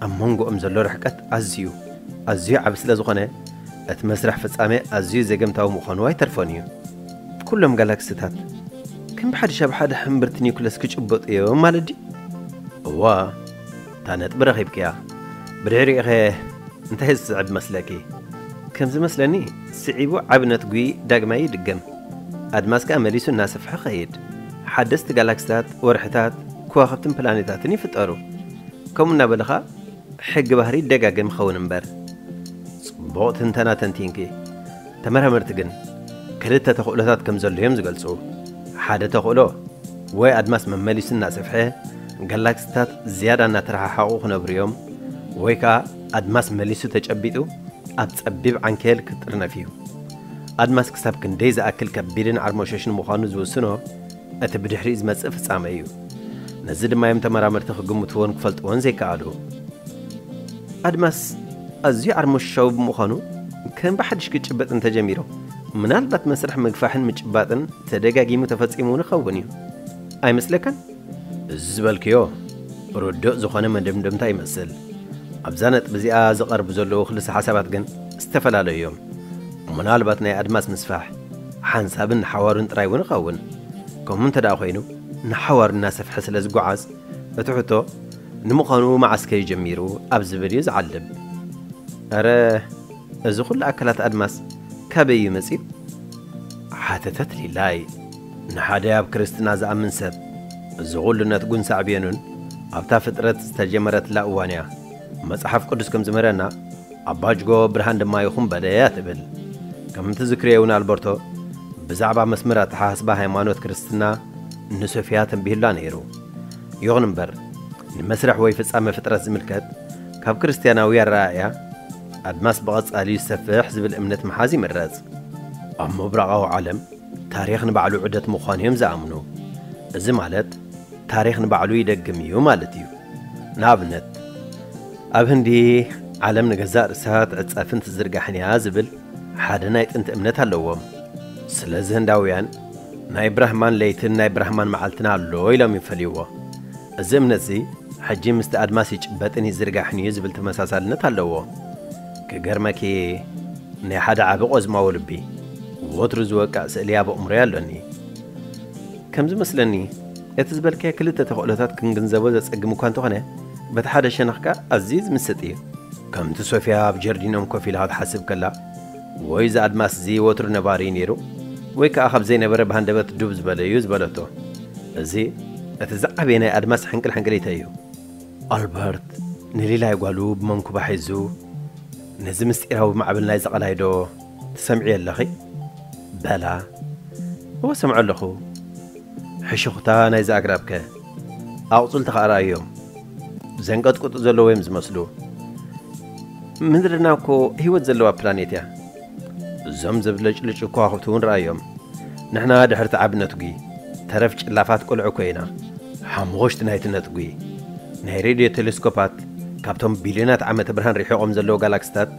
ኣብ መንጎኦም ዘሎ ርሕቀት ኣዝዩ ኣዝዩ ዓቢ ስለ ዝኾነ እቲ መስርሕ ፍጻሜ ኣዝዩ ዘገምታዊ ምዃኑ ኣይተርፎን እዩ። ኩሎም ጋላክሲታት ከም ብሓድሽ ኣብ ሓደ ሕምብርቲ ኒዩክለስ ክጭበጡ እዮም ማለት ድዩ? እወ! እታ ነጥቢ ረኺብክያ ብድሕሪኡኸ እንታይ ዝስዕብ መስለኪ? ከም ዝመስለኒ ስዒቡ ዓቢ ነትጒ ዳግማይ ይድገም፣ ኣድማስ ከኣ መሊሱ እናሰፍሐ ክኸይድ፣ ሓደስቲ ጋላክሲታት፣ ወርሕታት፣ ከዋኽብትን ፕላኔታትን ይፍጠሩ። ከምኡ እናበልኻ ሕጊ ባህሪ ይደጋገም ይኸውን እምበር። ጽቡቕ ትንተና ተንቲንኪ። ተመራመርቲ ግን ክልተ ተኽእሎታት ከም ዘሎ እዮም ዝገልጹ። ሓደ ተኽእሎ፣ ወይ ኣድማስ መመሊሱ እናሰፍሐ ጋላክሲታት ዝያዳ እናተረሓሓቑ ክነብሩ እዮም፣ ወይ ከኣ ኣድማስ መሊሱ ተጨቢጡ ኣብ ጸቢብ ዓንኬል ክጥርነፍ እዩ። ኣድማስ ክሳብ ክንደይ ዝኣክል ከቢድን ዓርሞሸሽን ምዃኑ ዝውስኖ፣ እቲ ብድሕሪኡ ዝመጽእ ፍጻመ እዩ። ነዚ ድማ እዮም ተመራመርቲ ክግምትዎን ክፈልጥዎን ዘይከኣሉ። ኣድማስ ኣዝዩ ዓርሞሽሻዊ ብምዃኑ ከም ብሓድሽ ክጭበጥ እንተጀሚሩ፣ ምናልባት መስርሕ ምግፋሕን ምጭባጥን ተደጋጊሙ ተፈጺሙ እውን ይኸውን እዩ። ኣይመስለካን? እዚ ዝበልክዮ ርዱእ ዝኾነ መደምደምታ ይመስል። ኣብዛ ነጥቢ እዚኣ ዝቐርቡ ዘለዉ ክልሰ ሓሳባት ግን ዝተፈላለዩ እዮም። ምናልባት ናይ ኣድማስ ምስፋሕ፣ ሓንሳብን ንሓዋሩን ጥራይ እውን ይኸውን። ከምኡ እንተድኣ ዀይኑ፣ ንሓዋሩ እናሰፍሐ ስለ ዚጐዓዝ፣ እቲ ሕቶ፣ ንምዃኑ መዓስ ከዩ ጀሚሩ? ኣብ ዚብል እዩ ዚዓልብ። ኣረ፣ እዚ ዅሉ ኣካላት ኣድማስ ካበይ እዩ መጺኡ? ሓተተት ሊላይ። ንሓደ ኣብ ክርስትና ዚኣምን ሰብ፣ እዚ ዅሉ ነትጕን ሳዕቤኑን ኣብታ ፍጥረት ዝተጀመረትላ እዋን እያ። መጽሓፍ ቅዱስ ከም ዚምህረና፣ ኣባጅጎ ብርሃን ድማ ይኹን በለ እያ ትብል። ከም ትዝክርዮ እውን ኣልበርቶ ብዛዕባ መስመር ኣተሓሳስባ ሃይማኖት ክርስትና ንሶፊያ ተንቢሁላ ነይሩ። ይኹን እምበር ንመስርሕ ወይ ፍጻመ ፍጥረት ዝምልከት ካብ ክርስትያናዊ ኣረኣእያ ኣድማስ ብቐጻሊ ዝሰፍሕ ዝብል እምነት ምሓዝ ይምረጽ። ኣብ ምብራቓዊ ዓለም ታሪኽ ንባዕሉ ዑደት ምዃኑ እዮም ዝኣምኑ። እዚ ማለት ታሪኽ ንባዕሉ ይደግም እዩ ማለት እዩ። ንኣብነት፣ ኣብ ህንዲ ዓለም ንገዛእ ርእሳ ትዕጸፍን ትዝርጋሕን እያ ዝብል ሓደ ናይ ጥንቲ እምነት ኣለዎም። ስለዚ ህንዳውያን ናይ ብራህማን ለይትን ናይ ብራህማን መዓልትን ኣሎ ኢሎም ይፈልይዎ። እዚ እምነት'ዚ ሕጂ ምስቲ ኣድማስ ይጭበጥን ይዝርጋሕን እዩ ዝብል ተመሳሳልነት ኣለዎ። ክገርመኪ ናይ ሓደ ዓቢ ቆዝማዊ ልቢ ወትሩ ዝወቅዕ ስእሊ ኣብ ኣእምሮይ ኣሎኒ። ከም ዝመስለኒ እቲ ዝበልካዮ ክልተ ተኽእሎታት ክንግንዘቦ ዘጸግም እኳ እንተኾነ፣ በቲ ሓደ ሸነኽ ከኣ ኣዝዩ ዝምስጥ እዩ። ከምቲ ሶፍያ ኣብ ጀርዲኖም ኮፍ ኢላ ክትሓስብ ከላ፣ ወይ እዚ ኣድማስ እዚ ወትሩ ነባሪ እዩ ነይሩ፣ ወይ ከኣ ካብ ዘይነበረ ብሃንደበት ዱብ ዝበለ እዩ ዝበለቶ። እዚ እቲ ዝዓበየ ናይ ኣድማስ ሕንቅልሕንቅሊተይ እዩ። ኣልበርት ንሊላይ ጓሉ ብመንኩባ ሒዙ፣ ነዚ ምስጢራዊ ማዕበል ናይዚ ቀላይ ዶ? ትሰምዕዮ ኣለኺ? በላ። እወ እሰምዖ ኣለኹ። ሕሹኽታ ናይዚ ኣግራብከ? ኣቝጽልቲ ኸኣ ርኣዮም። ዘንቀጥቅጡ ዘለዉ'ዮም ዚመስሉ። ምድርና እኮ ህይወት ዘለዋ ፕላኔት'ያ። እዞም ዘብለጭልጩ ከዋኽብቲ'ውን ርኣዮም። ንሕና ድሕሪ'ቲ ዓቢ ነትጒ፣ ተረፍ ጭላፋት ቈልዑ እኮ ኢና። ሓሙኽሽቲ ናይቲ ነትጒ፣ ናይ ሬድዮ ተለስኮፓት ካብቶም ቢልዮናት ዓመተ ብርሃን ርሒቖም ዘለዉ ጋላክሲታት፣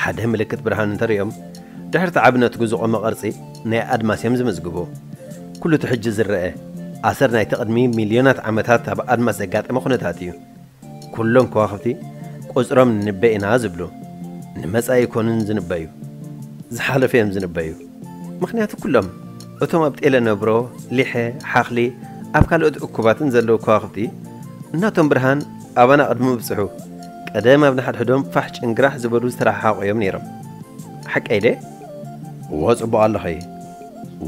ሓደ ምልክት ብርሃን እንተ ርእዮም፣ ድሕሪ እቲ ዓቢ ነትጒ ዝቖመ ቅርጺ ናይ ኣድማስ እዮም ዝምዝግቡ። ኵሉ እቲ ሕጂ ዝረኣ፣ ኣሰር ናይቲ ቅድሚ ሚልዮናት ዓመታት ኣብ ኣድማስ ዘጋጠመ ኵነታት እዩ። ኵሎም ከዋኽብቲ ቍጽሮም ንንበ ኢና ዝብሉ፣ ንመጻኢ ኣይኰኑን ዝንበዩ፣ ዝሓለፈ እዮም ዝንበዩ። ምኽንያቱ ኵሎም እቶም ኣብ ጤለ ነብሮ፣ ሊሐ፣ ሓኽሊ፣ ኣብ ካልኦት እኩባትን ዘለዉ ከዋኽብቲ፣ ናቶም ብርሃን ኣባና ቅድሚ ምብጽሑ፣ ቀደም ኣብ ንሓድሕዶም ፋሕ ጭንግራሕ ዝበሉ ዝተረሓሓቑ እዮም ነይሮም። ሓቀይ ድየ? እወ ጽቡቕ ኣለኺ።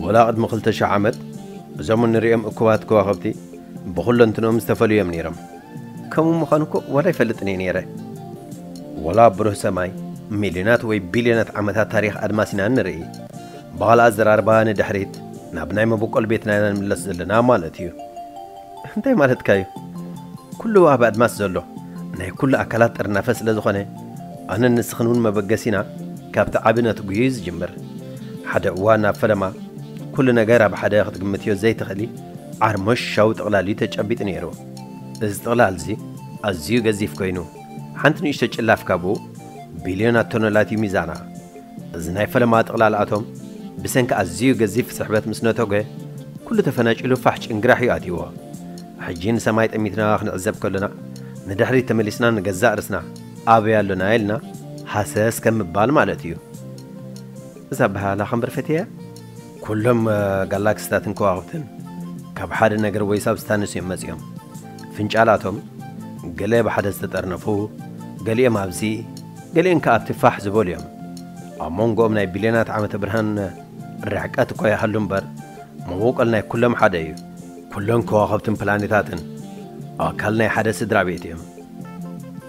ወላ ቅድሚ ክልተ ሽሕ ዓመት እዞም እንርእዮም እኩባት ከዋኽብቲ ብኹለንትንኦም ዝተፈልዩ እዮም ነይሮም። ከምኡ ምዃኑ እኮ ወላ ኣይፈልጥን እየ ነይረ። ወላ ኣብ ብሩህ ሰማይ ሚልዮናት ወይ ቢልዮናት ዓመታት ታሪኽ ኣድማስ ኢና እንርኢ። ብኻልእ ኣዘራርባ ንድሕሪት ናብ ናይ መበቆል ቤትና ኢና ንምለስ ዘለና ማለት እዩ። እንታይ ማለትካ እዩ ኩሉ ኣብ ኣድማስ ዘሎ ናይ ኩሉ ኣካላት ጥርናፈ ስለ ዝኾነ ኣነን ንስኽን እውን መበገሲና ካብቲ ዓቢ ነትጒ እዩ ዝጅምር ሓደ እዋን ኣብ ፈለማ ኩሉ ነገር ኣብ ሓደ ክትግምትዮ ዘይትኽእሊ ዓርሞሻዊ ጥቕላል እዩ ተጨቢጡ ነይሩ እዚ ጥቕላል እዚ ኣዝዩ ገዚፍ ኮይኑ ሓንቲ ንእሽቶ ጭላፍ ካብኡ ቢልዮናት ቶኖላት እዩ ሚዛና እዚ ናይ ፈለማ ጥቕላል ኣቶም ብሰንኪ ኣዝዩ ገዚፍ ስሕበት ምስ ነቶገ ኩሉ ተፈናጪሉ ፋሕ ጭንግራሕ እዩ ኣትይዎ። ሕጂ ንሰማይ ጠሚትና ክንዕዘብ ከሎና ንድሕሪት ተመሊስና ንገዛእ ርስና ኣበይ ኣሎና ኢልና ሃሰስ ከም ምባል ማለት እዩ። እዛ ኣበሃህላ ከንብር ፈትየያ። ኩሎም ጋላክሲታትን ከዋኽብትን ካብ ሓደ ነገር ወይ ሳብስታንስ እዮም መጺኦም። ፍንጫላቶም ገለ ብሓደ ዝተጠርነፉ፣ ገሊኦም ኣብዚ፣ ገሊኦም ከኣ ኣብቲ ፋሕ ዝበሉ እዮም። ኣብ መንጎኦም ናይ ቢልዮናት ዓመተ ብርሃን ርሕቀት እኳ ይሃሉ እምበር፣ መበቆል ናይ ኩሎም ሓደ እዩ። ኩሎም ከዋኽብትን ፕላኔታትን ኣካል ናይ ሓደ ስድራ ቤት እዮም።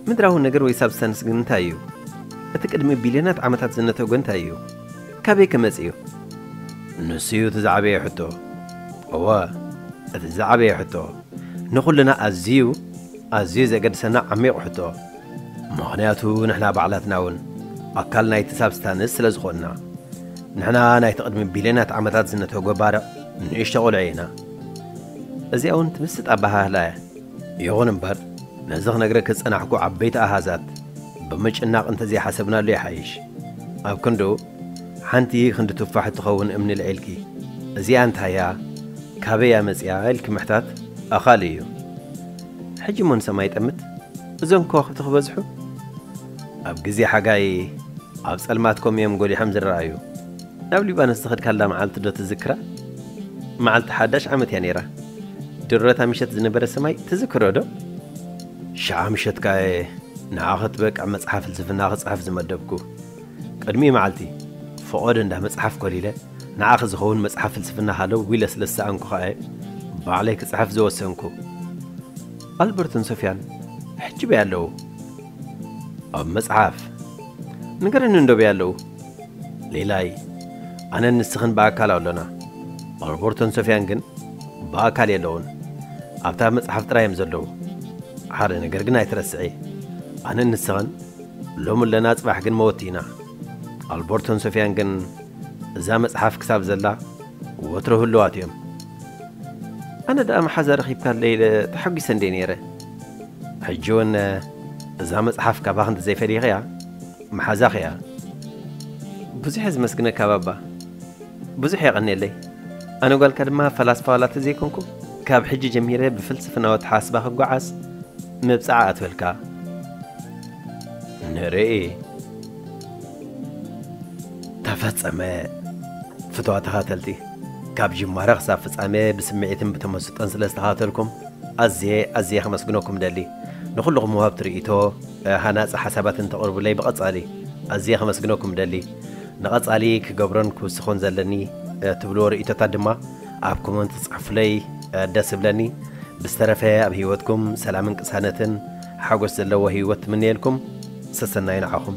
ምድራዊ ነገር ወይ ሳብስታንስ ግን እንታይ እዩ? እቲ ቅድሚ ቢልዮናት ዓመታት ዝነተጐ እንታይ እዩ? ካበይ ከ መጺኡ? ንሱ'ዩ እቲ ዝዓበየ ሕቶ። እወ፣ እቲ ዝዓበየ ሕቶ። ንኹልና ኣዝዩ ኣዝዩ ዜገድሰና ዓሚቝ ሕቶ። ምኽንያቱ ንሕና ባዕላትና'ውን ኣካል ናይቲ ሳብስታንስ ስለ ዝዀንና። ንሕና ናይቲ ቕድሚ ቢልዮናት ዓመታት ዝነተጐ ባርዕ ንእሽቶ ቝልዒ ኢና። እዚኣ'ውን ትምስጥ ኣበሃህላ'ያ። ይኹን እምበር፣ ነዚ ኽነግረኪ ዝጸናሕኩ ዓበይቲ ኣሃዛት፣ ብምጭናቕ እንተዘይሓሰብናሉ ይሓይሽ። ኣብ ክንድኡ ሓንቲ ክንዲ ቱፋሕ እትኸውን እምኒ ልዒልኪ፣ እዚኣ እንታይ እያ? ካበይ እያ መጺኣ? ኢልኪ ምሕታት ኣኻሊ እዩ። ሕጂ እሞ ንሰማይ ይጠምት፣ እዞም ከዋኽብቲ ክበዝሑ? ኣብ ግዜ ሓጋይ ኣብ ጸልማት ኮም እዮም ጎሊሖም ዝረኣዩ። ናብ ሊባኖስ ዝኸድካላ መዓልቲዶ ትዝክራ? መዓልቲ ሓዳሽ ዓመት እያ ነይራ። ድሮታ ምሸት ዝነበረ ሰማይ ትዝክሮዶ? ሽዓ ምሸት ከኣ'የ ንዓ ኸጥበቅ ኣብ መጽሓፍ ፍልስፍና ክጽሕፍ ዝመደብኩ። ቅድሚ መዓልቲ፣ ፈቖዶ እንዳ መጽሓፍ ኮሊለ፣ ንዓኺ ዝኸውን መጽሓፍ ፍልስፍና ሃለው ዊለ ስለ ዝሰኣንኩ ከኣ'የ ባዕለይ ክጽሕፍ ዝወሰንኩ። ኣልበርቶን ሶፍያን ሕጂ'በይ ኣለው? ኣብ መጽሓፍ። ንገረኒ እንዶ በይ ኣለው? ሌላይ፣ ኣነን ንስኽን ብኣካል ኣሎና። ኣልበርቶን ሶፍያን ግን? ብኣካል የለውን ኣብታ ኣብ መጽሓፍ ጥራይ እዮም ዘለዉ ሓደ ነገር ግን ኣይትረስዒ ኣነን ንስኽን ሎሚ ኣለና ጽባሕ ግን መወቲ ኢና ኣልቦርቶን ሶፊያን ግን እዛ መጽሓፍ ክሳብ ዘላ ወትሮ ህልዋት እዮም ኣነ ደኣ መሓዛ ረኺብካለይ ኢለ ተሓጒሰ እንዴ ነይረ ሕጂ እውን እዛ መጽሓፍ ካባኽ እንተዘይፈሊኽያ መሓዛኽ እያ ብዙሕ እየ ዝመስግነካ ባባ ብዙሕ የቐኔለይ ኣነ ጓልካ ድማ ፈላስፋ ዋላ ተዘይኮንኩ ካብ ሕጂ ጀሚረ ብፍልስፍናዊ ኣተሓስባ ክጓዓዝ መብጽዓ ኣትበልካ ንርኢ ተፈጸመ ፍትዋ ተኻተልቲ ካብ ጅማረ ክሳብ ፍጻመ ብስምዒትን ብተመስጦን ስለ ዝተኻተልኩም ኣዝየ ኣዝየ ከመስግነኩም ደሊ ንኹልኹም ወሃብቲ ርእይቶ ሃናጺ ሓሳባት እንተቕርቡለይ ብቐጻሊ ኣዝየ ከመስግነኩም ደሊ ንቐፃሊ ክገብሮን ክውስኾን ዘለኒ ትብልዎ ርእይቶታት ድማ ኣብ ኮመንት ፅሑፉለይ ደስ እብለኒ። ብዝተረፈ ኣብ ህይወትኩም ሰላምን ቅሳነትን ሓጎስ ዘለዎ ህይወት ትምነየልኩም። ሰሰናዩ ንዓኹም።